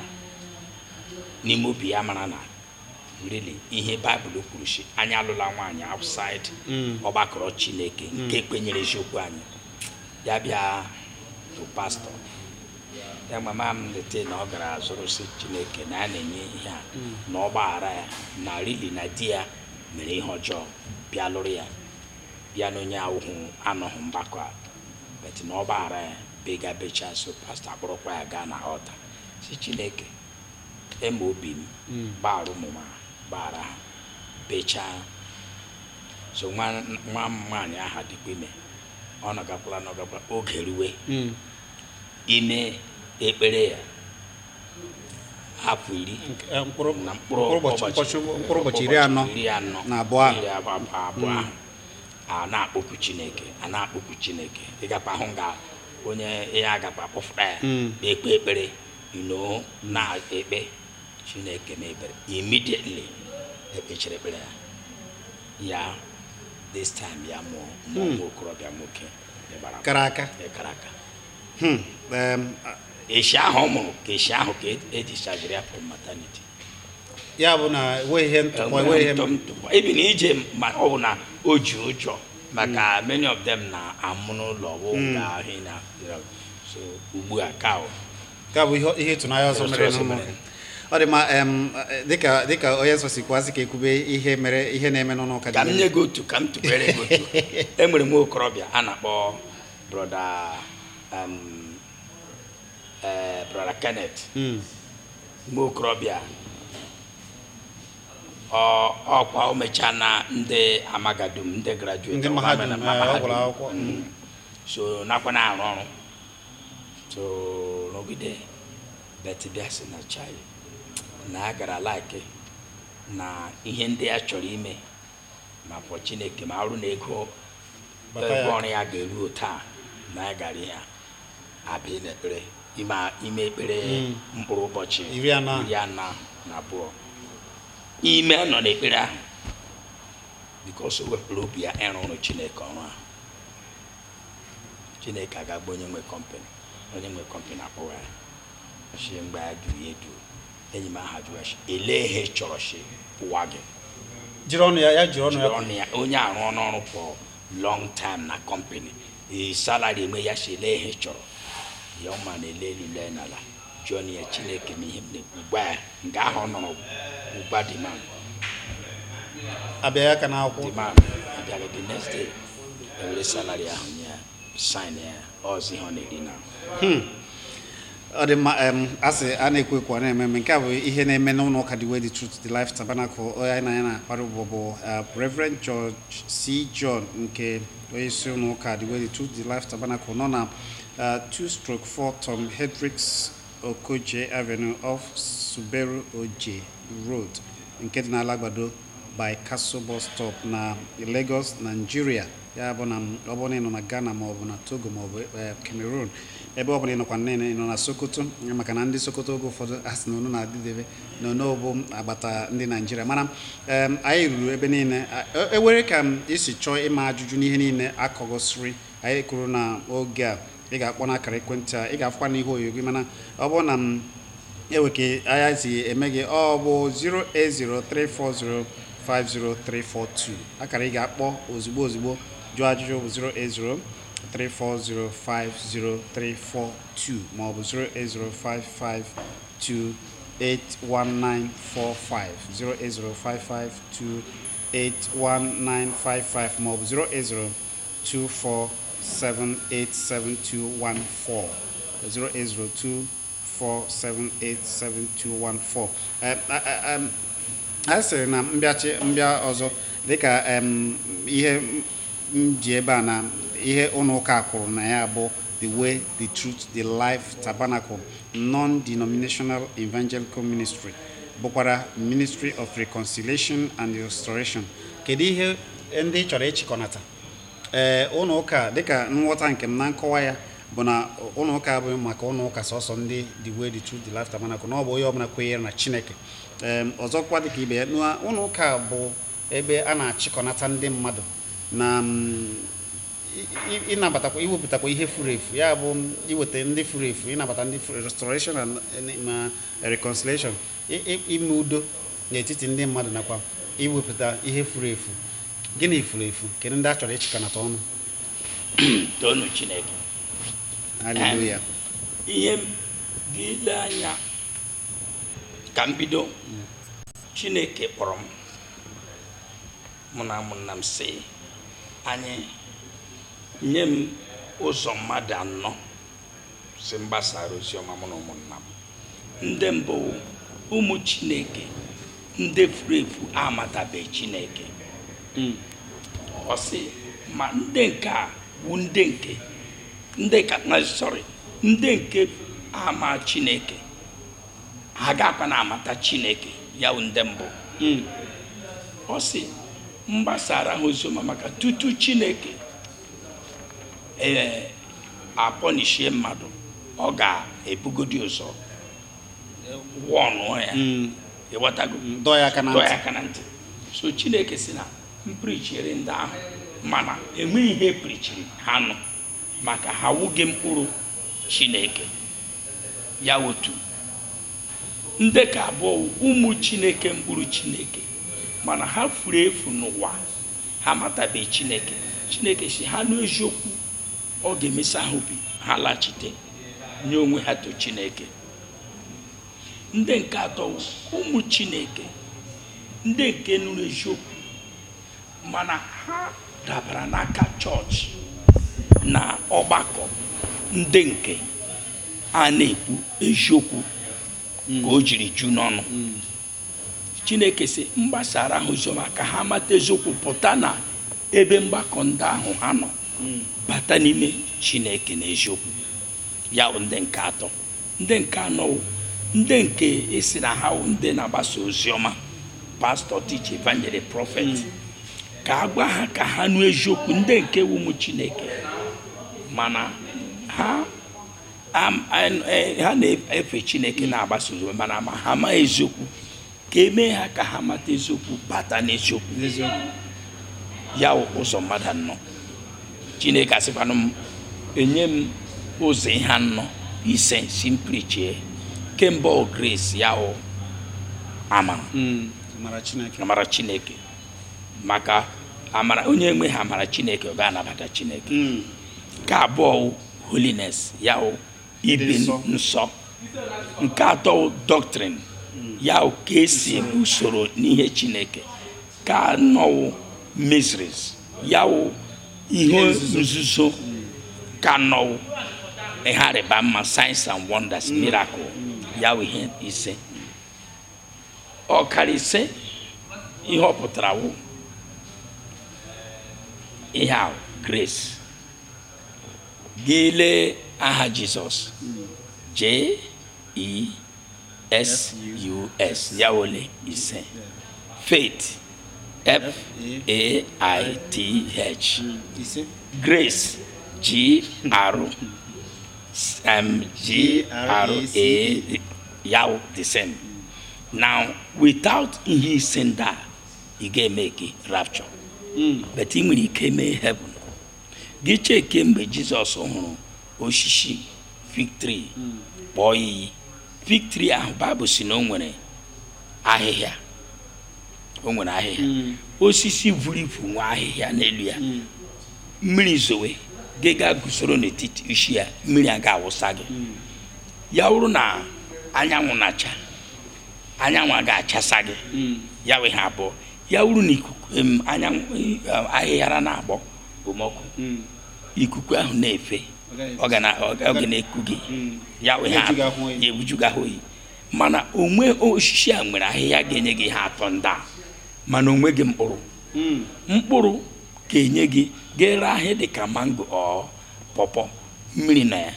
n'ime obi ya mara na really ihe baịbụl kwuru sị anyị alụla nwaanyị outside Mm. ọgbakọrọ chineke nke kwenyere eziokwu anyị ya bịa to pastọ ya mama m lete na ọ gara zụrụ sị chineke na a na-enye ihe a na ọ gbaghara ya na really na di ya mere ihe ọjọọ bịa lụrụ ya bịa na onye ahụ anọghị mgbakọ a but na ọ gbaghara ya bega becha so pastọ akpọrọkwa ya gaa na altar si chineke eme obi m hmm. gbaghara ụmụ m gbaghara ha bechaa so nwa m nwaanyị aha dịkwa ime ọ nọgakwala nọgakwala oge ruwe hmm. ime ekpere ya hapụ iri eh, na mkpụrụ ụbọchị iri anọ na abụọ ahụ hmm. a na-akpọku chineke a na-akpọku chineke ịgakwa ahụ nga onye ya agakwa kpọfụta ya hmm. na-ekpe ekpere nọ na-ekpe chineke mebere immediately ekpechiri ekpere ya ya this time ya mụọ nwa hmm. okorobịa nwoke kara aka kara aka hmm. eshi ahụ ọ mụrụ ka eshi ahụ ka edischargere ya from maternity ya bụ na enweghị ihe ntụpọ enweghị ihe even ije ma ọ bụ na o ji ụjọ maka hmm. many of them na-amụ n'ụlọ bụ hmm. ga ahụ na so ugbu a ka ka bụ ihe ịtụnanya ọzọ mere n'ụlọ ọ dị ma dịka dịka onye nsọ si kwuasị ka ekwube ihe mere ihe na-eme n'ụlọ ụka ka m nye gị otu ka m tụbere gị otu enwere m okorobịa a na-akpọ brother eh, brother Kenneth hmm. nwa okorobịa ọ- ọkwa o mechaa na ndị mahadum ndị Ndị graduate ọkwa mahadum, mere na eh, ọ mahadum. gụrụ akwụkwọ. Mm. so nakwa na-arụ ọrụ so rụgide but bịa sị na chai na ya gara like na ihe ndị ya chọrọ ime maka chineke ma arụ na ego ego ọrụ ya ga-eru taa na ya gara ihe a abịa n'ekpere ime ime ekpere Mm. mkpụrụ ụbọchị Iri anọ. iri anọ na abụọ ime nọ n'ekpere ahụ because o wepụrụ obi ya ịrụ ọrụ chineke ọrụ ahụ chineke agaba onye nwe company onye nwe company akpọwa ya shi mgbe a jụrụ ya edu enyi m aha jụrụ shi elee ihe chọrọ shi kwụwa gị jiri ọnụ ya ya jiri ọnụ ya jiri ọnụ ya onye arụ ọnụ ọrụ for long time na company ee salary eme ya shi elee ihe chọrọ ya ọma na ele elu lee n'ala jụọ na ya chineke ma ihe m na-ekwu gwa ya nke ahụ ọ nọrọ ụgba demand abịa ya ka n'akwụkwọ demand abịara the next day ewere salary ahụ nye ya sign ya as ihe ọ na-eri na ọ dị mma em a sị a na-ekwu ekwu a na-eme eme nke a bụ ihe na-eme n'ụlọ ụka The Way, The Truth, The Life Tabernacle onye anyị na ya na-akpara ụbọ bụ eh, Reverend George C. John nke onye isi ụlọ ụka The Way, The Truth, The Life Tabernacle nọ na eh, 2 stroke 4 Tom Hendricks Okoje Avenue off Suberu Oje Road nke dị n'Alagbado by Castle Bus Stop na Lagos, Nigeria. ya bụ na ọ bụrụ na ị nọ na Ghana ma ọ bụ na Togo ma ọ bụ eh, Cameroon ebe ọ bụla ị nọkwa ị nọ na Sokoto maka na ndị Sokoto oge ụfọdụ a sị na unu na-adịdebe na unu bụ agbata ndị Naijiria mana anyị ruru ebe niile e nwere ka i si chọọ ịma ajụjụ n'ihe niile akọgosiri anyị kwuru na oge a ị ga-akpọ n'akara ekwentị a ị ga-afụkwa n'ihe onyonyo gị mana ọ bụrụ na e nwee ka anya si eme gị ọ bụ 08034050342 akara ị ga-akpọ ozugbo ozugbo jụọ ajụjụ bụ 08034050342 ma ọ bụ 08055281945 08055281955 ma ọ bụ 080 08024787214 a sịrị na mbịachi mbịa ọzọ dịka ihe m ji ebe a na ihe ụlọ ụka a kwuru na ya bụ the way the truth the life tabernacle non-denominational evangelical ministry bụkwara ministry of reconciliation and restoration kedu ihe ndị ị chọrọ ịchịkọnata ee ụlọ ụka dịka nghọta nke m na nkọwa ya bụ na ụlọ ụka abụghị maka ụlọ ụka sọsọ ndị the way the truth the life tabernacle na ọ bụ onye ọbụla kwenyere na chineke ee ọzọkwa dịka ibe ya na ụlọ ụka bụ ebe a na-achịkọnata ndị mmadụ na mm, i- i- ịnabatakwa iwepụtakwa ihe furu efu ya bụ iweta ndị furu efu ịnabata ndị furu restoration and reconciliation ime udo n'etiti ndị mmadụ nakwa iwepụta ihe furu efu gịnị furu efu kedu ndị a chọrọ ịchịkọnata ọnụ toonụ chineke haleluya ihe gị ile anya ka m bido mm. chineke kpọrọ m mụ na ụmụnna m sị anyị nye m ụzọ mmadụ anọ sị m gbasara oziọma mụ na ụmụnna m ndị mbụ ụmụ chineke ndị furu efu amatabeghị chineke hmm. ọ sị m ndị nke a bụ ndị nke ndị ka na sorry ndị nke ama chineke ha agakwanụ amata chineke ya bụ ndị mbụ hmm. ọ sị m gbasara ha oziọma maka tutu chineke ee apọnishie mmadụ ọ ga-ebugodi ụzọ wọnụọ ya hmm. ịghọtago hmm, dọọ ya aka na ntị so chineke sị na m prichiri ndị ahụ mana enwe ihe prichiri ha nụ maka ha wụghị mkpụrụ chineke ya otu ndị nke abụọ ụmụ chineke mkpụrụ chineke mana ha furu efu n'ụwa ha amatabeghị chineke chineke sị ha nụ eziokwu ọ ga-emesa ha obi ha lachite nye onwe ha to chineke ndị nke atọ ụmụ chineke ndị nke nụrụ eziokwu mana ha dabara n'aka chọọchị na ọgbakọ ndị nke a na-ekwu eziokwu ka o jiri ju n'ọnụ chineke sị m gbasaara ha oziọma ka ha mata eziokwu pụta na ebe mgbakọ ndị ahụ ha nọ bata n'ime chineke n'eziokwu ya wụ ndị nke atọ ndị nke anọ wụ ndị nke a sị na ha wụ ndị na-agbasa oziọma pastor teacher evangelist prophet ka a gwa ha ka ha nụ eziokwu ndị nke wụ ụmụ chineke mana ha Am- an- eh, ha na-efe chineke na-agbasa oziọma mana ma ha amaghị eziokwu ka e mee ha ka ha mata eziokwu bata n'eziokwu ya wụ ụzọ mmadụ anọ chineke asịkwanụ m enye m ụzọ ihe anọ ise sị m prichie nke mbụ wụ grace ya wụ amara Mm, amara chineke maka amara onye enweghị amara chineke ọ gaghị anabata chineke Mm, nke abụọ wụ holiness ya wụ ibi nsọ nke atọ wụ doctrine ya wụ ka e si usoro n'ihe chineke nke anọ wụ mysteries ya wụ ihe nzuzo nke anọ wụ ihe ịrịba ama signs and wonders mm. miracle ya wụ ihe ise akara ise ihe ọ pụtara wụ ihe ahụ grace gị lee aha jizọs j-e-s-u-s ya ole ise faith f-a-i-t-h grace g-r um, g-r-a ya wụ the same now without ihe ise ndị a ị gaghị emeki rapture but ị nwere ike mee heaven gị chekie mgbe jizọs hụrụ osisi fig tree kpọọ iyi fig tree ahụ baịbụl sị na o nwere ahịhịa o nwere ahịhịa hmm. osisi vuru ivu nwee ahịhịa n'elu ya hmm. mmiri zowe gị gaa guzoro n'etiti isi ya mmiri agaghị awụsa gị hmm. ya wụrụ na anyanwụ na-acha anyanwụ agaghị achasa gị ya wụ ihe abụọ ya wụrụ na ikuku em, anyanwụ eh, ahịhịa na-agbọ okpomọkụ Mm. ikuku ahụ na-efe Ọ gaghị- ọ ga na- ọ ga- ọ ga na-eku gị Mm. ya wụ ihe Ebuju gị ahụ oyi. ya ebuju gị ahụ oyi mana o nwe osisi a nwere ahịhịa ga-enye gị ihe atọ ndị a mana o nweghị mkpụrụ Mm. mkpụrụ ga-enye gị ga-ere ahịa dị ka mango or pọpọ mmiri na ya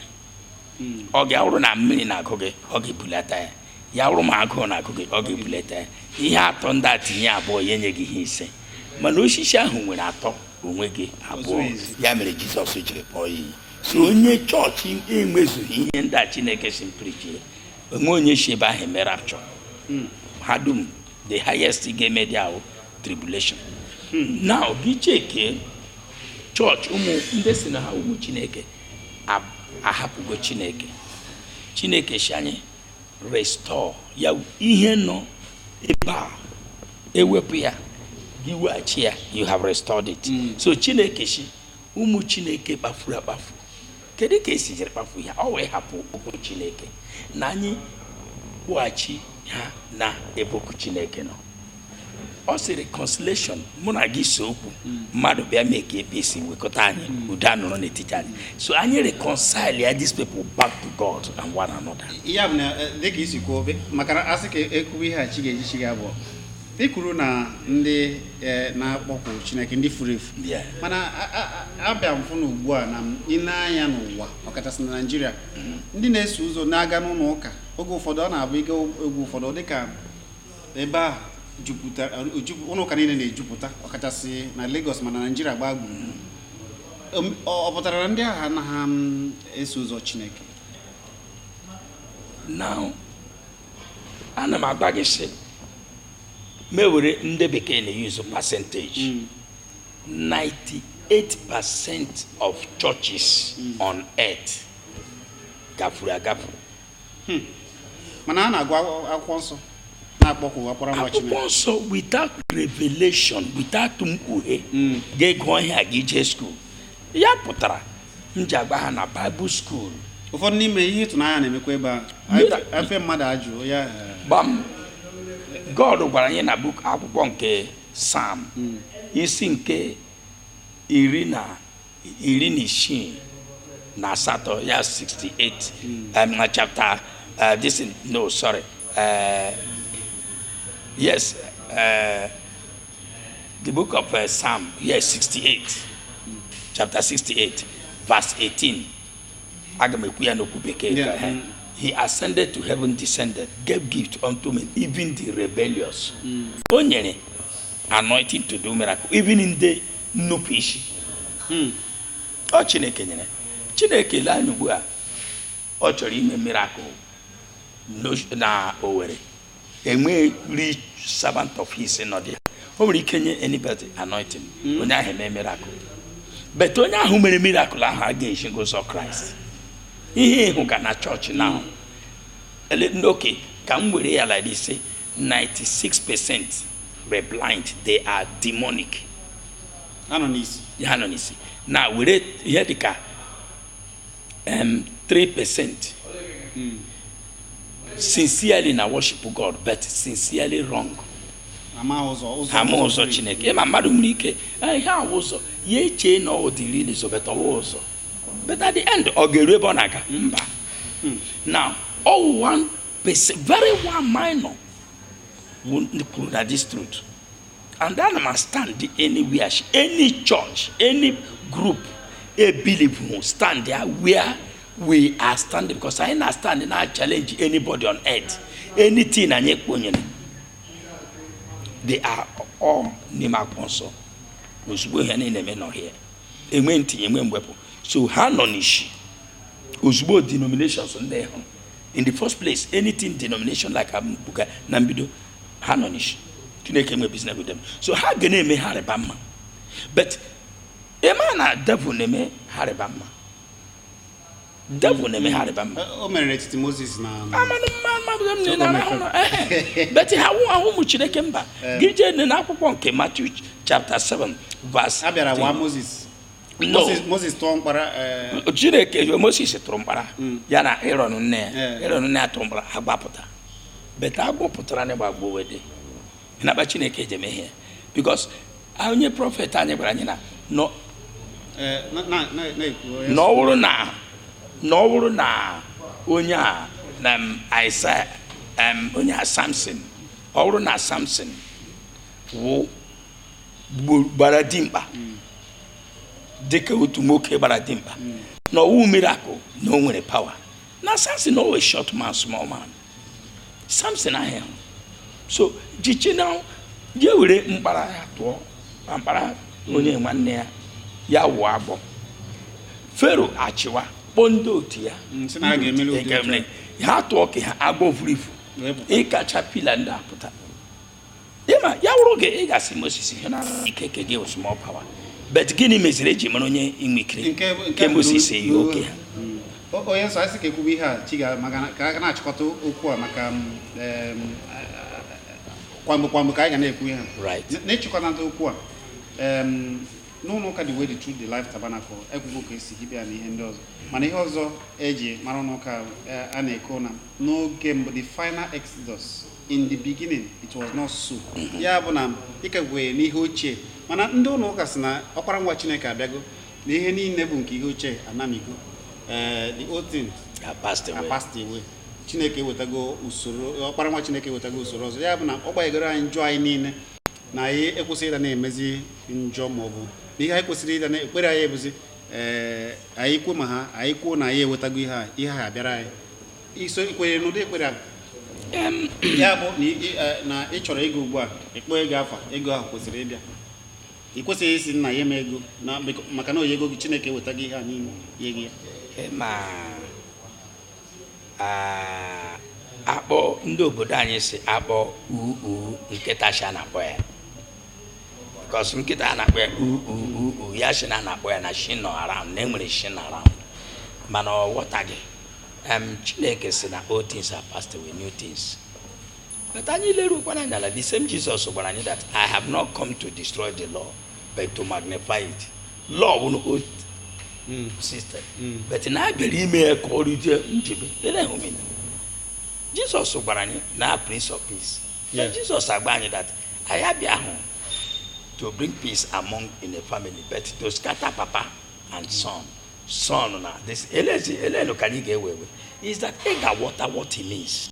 Mm. ọ ga-awụrụ na mmiri na-agụ gị ọ ga-ebulata ya ya wụrụ ma agụụ na-agụ gị ọ ga-ebulata ya ihe atọ ndị a tinye abụọ ya enye gị ihe ise mana osisi ahụ nwere atọ o nweghị abụọ ya mere jizọs jiri kpọọ ya iyi so onye chọọchị enwezughị ihe ndị a chineke sị m prichie o nwe onye si ebe ahụ eme rapture hmm. ha dum the highest ga-eme dị ahụ tribulation hmm. now gị cheke chọọchị ụmụ ndị sị na ha wụ ụmụ chineke ahapụgo chineke chineke sị anyị restore ya ihe nọ ebe a ewepụ ya gị weghachi ya you have restored it mm. so chineke sị ụmụ chineke kpafuru akpafu kedu ka e si jiri kpafu ya ọ wee hapụ okwu chineke na anyị kpọghachi ha na ebe okwu chineke nọ ọ sị reconciliation mụ na gị see okwu mmadụ bịa mee ka ebe e si wekọta anyị udo anọrọ n'etiti anyị so anyị reconcile ya these people back to God and one another. ya bụ na eh, dịka i si kwuo maka na a sị ka e kwuwe ihe a chi ga-eji chi ga-abọ ị kwuru na ndị eh, na-akpọku Chineke ndị furu efu Yeah. mana a- a- a- abịa m fụ na ugbu a na i nee anya n'ụwa ọkachasị na Naịjirịa ndị na-eso ụzọ na-aga n'ụlọ ụka oge ụfọdụ ọ na-abụ ị gaa oge ụfọdụ dịka ebe ahụ jupụtara ụlọ ụka niile na-ejupụta ọkachasị na Lagos ma na Naịjirịa gbaa gburugburu um, ọ pụtara na ndị ahụ anaghị um, eso ụzọ Chineke now ana m agwa gị sị m were ndị bekee na-eyuzu percentage 98 mm. percent of churches mm. on earth gafuru agafu Hmm. mana a na-agụ akwụkwọ nsọ na-akpọku a kpọrọ nwa Chineke akwụkwọ nsọ without revelation without mkpughe hmm. ga-ego ihe a gị jee skuul ya pụtara m ji agba ha na baịbụl skuul ụfọdụ n'ime ihe ịtụnanya na-emekwa ebe a afe mmadụ ajụ ya eh. gbam god gwara anyị na book akwụkwọ nke Psalm hmm. isi nke iri na iri na isii na asatọ ya 68 hmm. um, na chapter uh, this no sorry uh, yes uh, the book of uh, Psalm yes 68 chapter 68 verse 18 aga m ekwu ya n'okwu bekee yeah. Eh? he ascended to heaven descended gave gift unto men even the rebellious hmm. o nyere anointing to do miracle even in the nnupụ isi hmm. ọ chineke nyere chineke lee anya ugbu a ọ chọrọ ime miracle na Owerri enwe real servant of his nọ there o nwere ike nye anybody anointing hmm. onye ahụ eme miracle but onye ahụ mere miracle ahụ aga-esighị ụzọ Christ ihe ị hụga na church now hmm. okay ka m were ya like this say 96% were blind they are demonic ha nọ n'isi ha nọ n'isi now were ihe dịka um, 3% mm. sincerely na worship God but sincerely wrong ha ama ụzọ chineke ị ma mmadụ nwere ike ihe awụ ụzọ ya echee na ọ wụ the real ụzọ but awụ ụzọ but at the end ọ ga-eru ebe ọ na-aga mba hmm. now ọ wụ one very one minor kwụrụ na this truth and ana m stand anywhere any church any group a believer who stand there where we are standing because anyị na stand na challenge anybody on earth anything anyị kponyere they are all n'ime akwụkwọ nsọ ozugbo ihe niile eme nọ here enwe ntinye enwe mwepụ so ha nọ n'isi ozugbo denominations ndị ahụ in the first place anything denomination like ambuga na mbido ha nọ n'isi chineke enwe business with them so ha ga na-eme ha rịba mma but ị ma na devil na-eme ha rịba mma devil na-eme ha rịba mma o mere n'etiti moses na amanụ mma mmadụ m nile arahụ na but ha awụhụ ụmụ chineke mba gị jee nee na akwụkwọ nke matthew chapter 7 verse a bịara wa moses No. Moses- moses tụọ mkpara eh, chineke moses tụrụ mkpara Mm. ya na Aaron nne ya Yeah. Aaron nne ya tụrụ mkpara agwọ apụta but agwọ pụtara na gbagbo wede nakpa chineke eji eme ihe because onye prophet anyị gwara anyị na nọ eh, na- na- na- na-ekwu onye- na ọ bụrụ na na ọ bụrụ na onye a na m, Isaiah em, onye a Samson ọ bụrụ na Samson wụ gbara dimkpa dịka otu nwoke gbara dimkpa na ọwụ miracle na o nwere power na samson ọ wụ short man small man samson ahụ so jichi na ya were mkpara ya tụọ ma mkpara onye nwanne ya ya wụọ agwọ fero achịwa kpọọ ndị otu ya Mm, sị na ha ga-emeli ụdị otu a. ha tụọ nke ha agwọ vuru ivu Wee pụta. caterpillar ndị apụta ịma ya wụrụ gị ị ga-asị moses ihe na ike nke gị small power but gịnị meziri eji mara onye nwere ike nke moses loo nke ha onye nsọ a sị ka ekwube ihe a chi ga maka na- ka a ga na-achịkọta okwu a maka m, em, kwamgbe kwamgbe ka anyị ga na-ekwu ihe a Right. N- n'ịchịkọta okwu a em, n'ụlọ ụka the way the truth the life tabernacle ekwugo ka esi hibe ya na ihe ndị ọzọ mana ihe ọzọ eji mara ụlọ ụka eh, a na-ekwu na n'oge mbụ the final exodus in the beginning it was not so mm-hmm. ya bụ na ị ka kwere n'ihe ochie mana ndị ụlọ ụka sị na ọkpara nwa chineke abịago na ihe niile bụ nke ihe ochie anamigo eh, the old things are passed away chineke ewetago usoro ọkpara nwa chineke ewetago usoro ọzọ ya bụ na ọ gbaghagoro anyị njọ anyị niile na anyị ekwesịghị ịdị na-emezi njọ ma ọ bụ na ihe anyị kwesịrị ịdị na-ekpere anyị bụzi ee eh, anyị kwuo ma ha anyị kwuo na anyị ewetago ihe a ihe a abịara anyị i so kwenye n'ụdị ekpere a ya bụ na ị chọrọ ego ugbu a ịkpọ ego afa ego ahụ kwesịrị ịbịa ị kwesịghị ịsị nna nye m ego maka na o nyego gị chineke ewetago ihe a niile nye gị ya ma akpọ ndị obodo anyị si akpọ uu nkịta sị a na-akpọ ya because nkịta a na-akpọ ya uu ya sị na a na-akpọ ya na nsị nọ around na enwere nsị nọ around mana ọ ghọtaghị em chineke si na old things are passed away new things but anyị lerukwana anya na the same jesus gwara anyị that i have not come to destroy the law but to magnify it law bụ na old system but na a bịara ime ya ka ọ rụzie njebe ele homina jesus gwara anyị na prince of peace na Yeah. jesus agwa anyị that ya abịahụ to bring peace among in a family but to scatter papa and son son na this elezi elee nke anyị ga-ewe ewe is that ị ga-aghọta what he means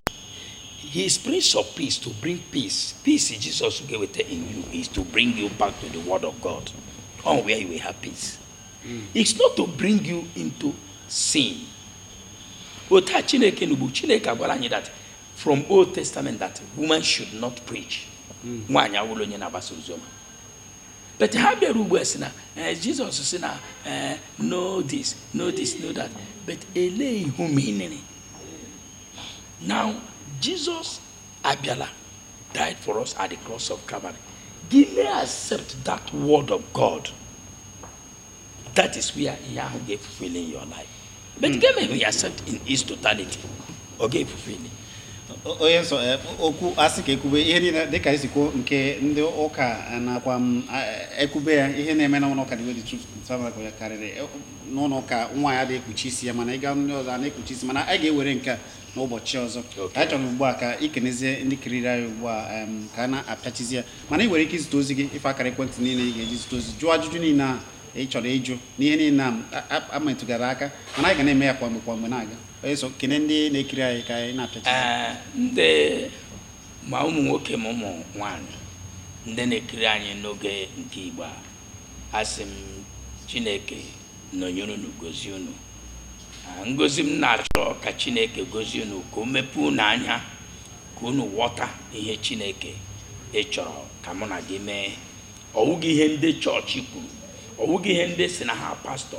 he is prince of peace to bring peace peace jesus ga-eweta in you is to bring you back to the word of god on where you will have peace mm. it's not to bring you into sin otu a chineke n'ugbu chineke agwara anyị that from old testament that woman should not preach nwaanyị awụla onye na-agbasa oziọma but ha bịara ugbu a sị na eh, jizọs sị na eh, no this no this no that but elee ihe menere now jizọs abịala died for us at the cross of calvary gị mee accept that word of god that is where ihe ahụ ga-efulfill in your life but mm. gị emeghị ya accept in its totality ọ ga-efulfill onye nsọ eh, okwu a sị ka e kwube ihe niile dịka isiokwu nke ndị ụka eh, nakwa mm, eh, e kwube ya ihe na-eme na ụlọ ụka the way the truth tabernacle ya karịrị n'ụlọ ụka nwanyị adị ekpuchi isi ya mana ị gaa ndị ọzọ a na-ekpuchi isi mana a ga-ewere nke a n'ụbọchị ọzọ anyị chọrọ ugbu a ka i kenezie ndị kiriri anyị ugbu a ka a na-apịachizi ya mana ị nwere ike izite ozi gị ife akara ekwentị niile ị ga-eji zite ozi jụọ ajụjụ niile a ị chọrọ ịjụ n'ihe niile a a metụgara aka mana anyị ga na-eme ya kwa mgbe kwa mgbe na-aga onye nsọ kene ndị na-ekiri anyị ka anyị na-apịacha ndị ma ụmụ nwoke ma ụmụ nwanyị ndị na-ekiri anyị n'oge nke igbo a asị m chineke nọnyere unu gozie unu ngozi m na-achọ ka chineke gozie unu ka o mepee unu anya ka unu ghọta ihe chineke ị chọrọ ka mụ na gị mee ọ wụghị ihe ndị chọọchị kwuru ọ wụghị ihe ndị sị na ha pastọ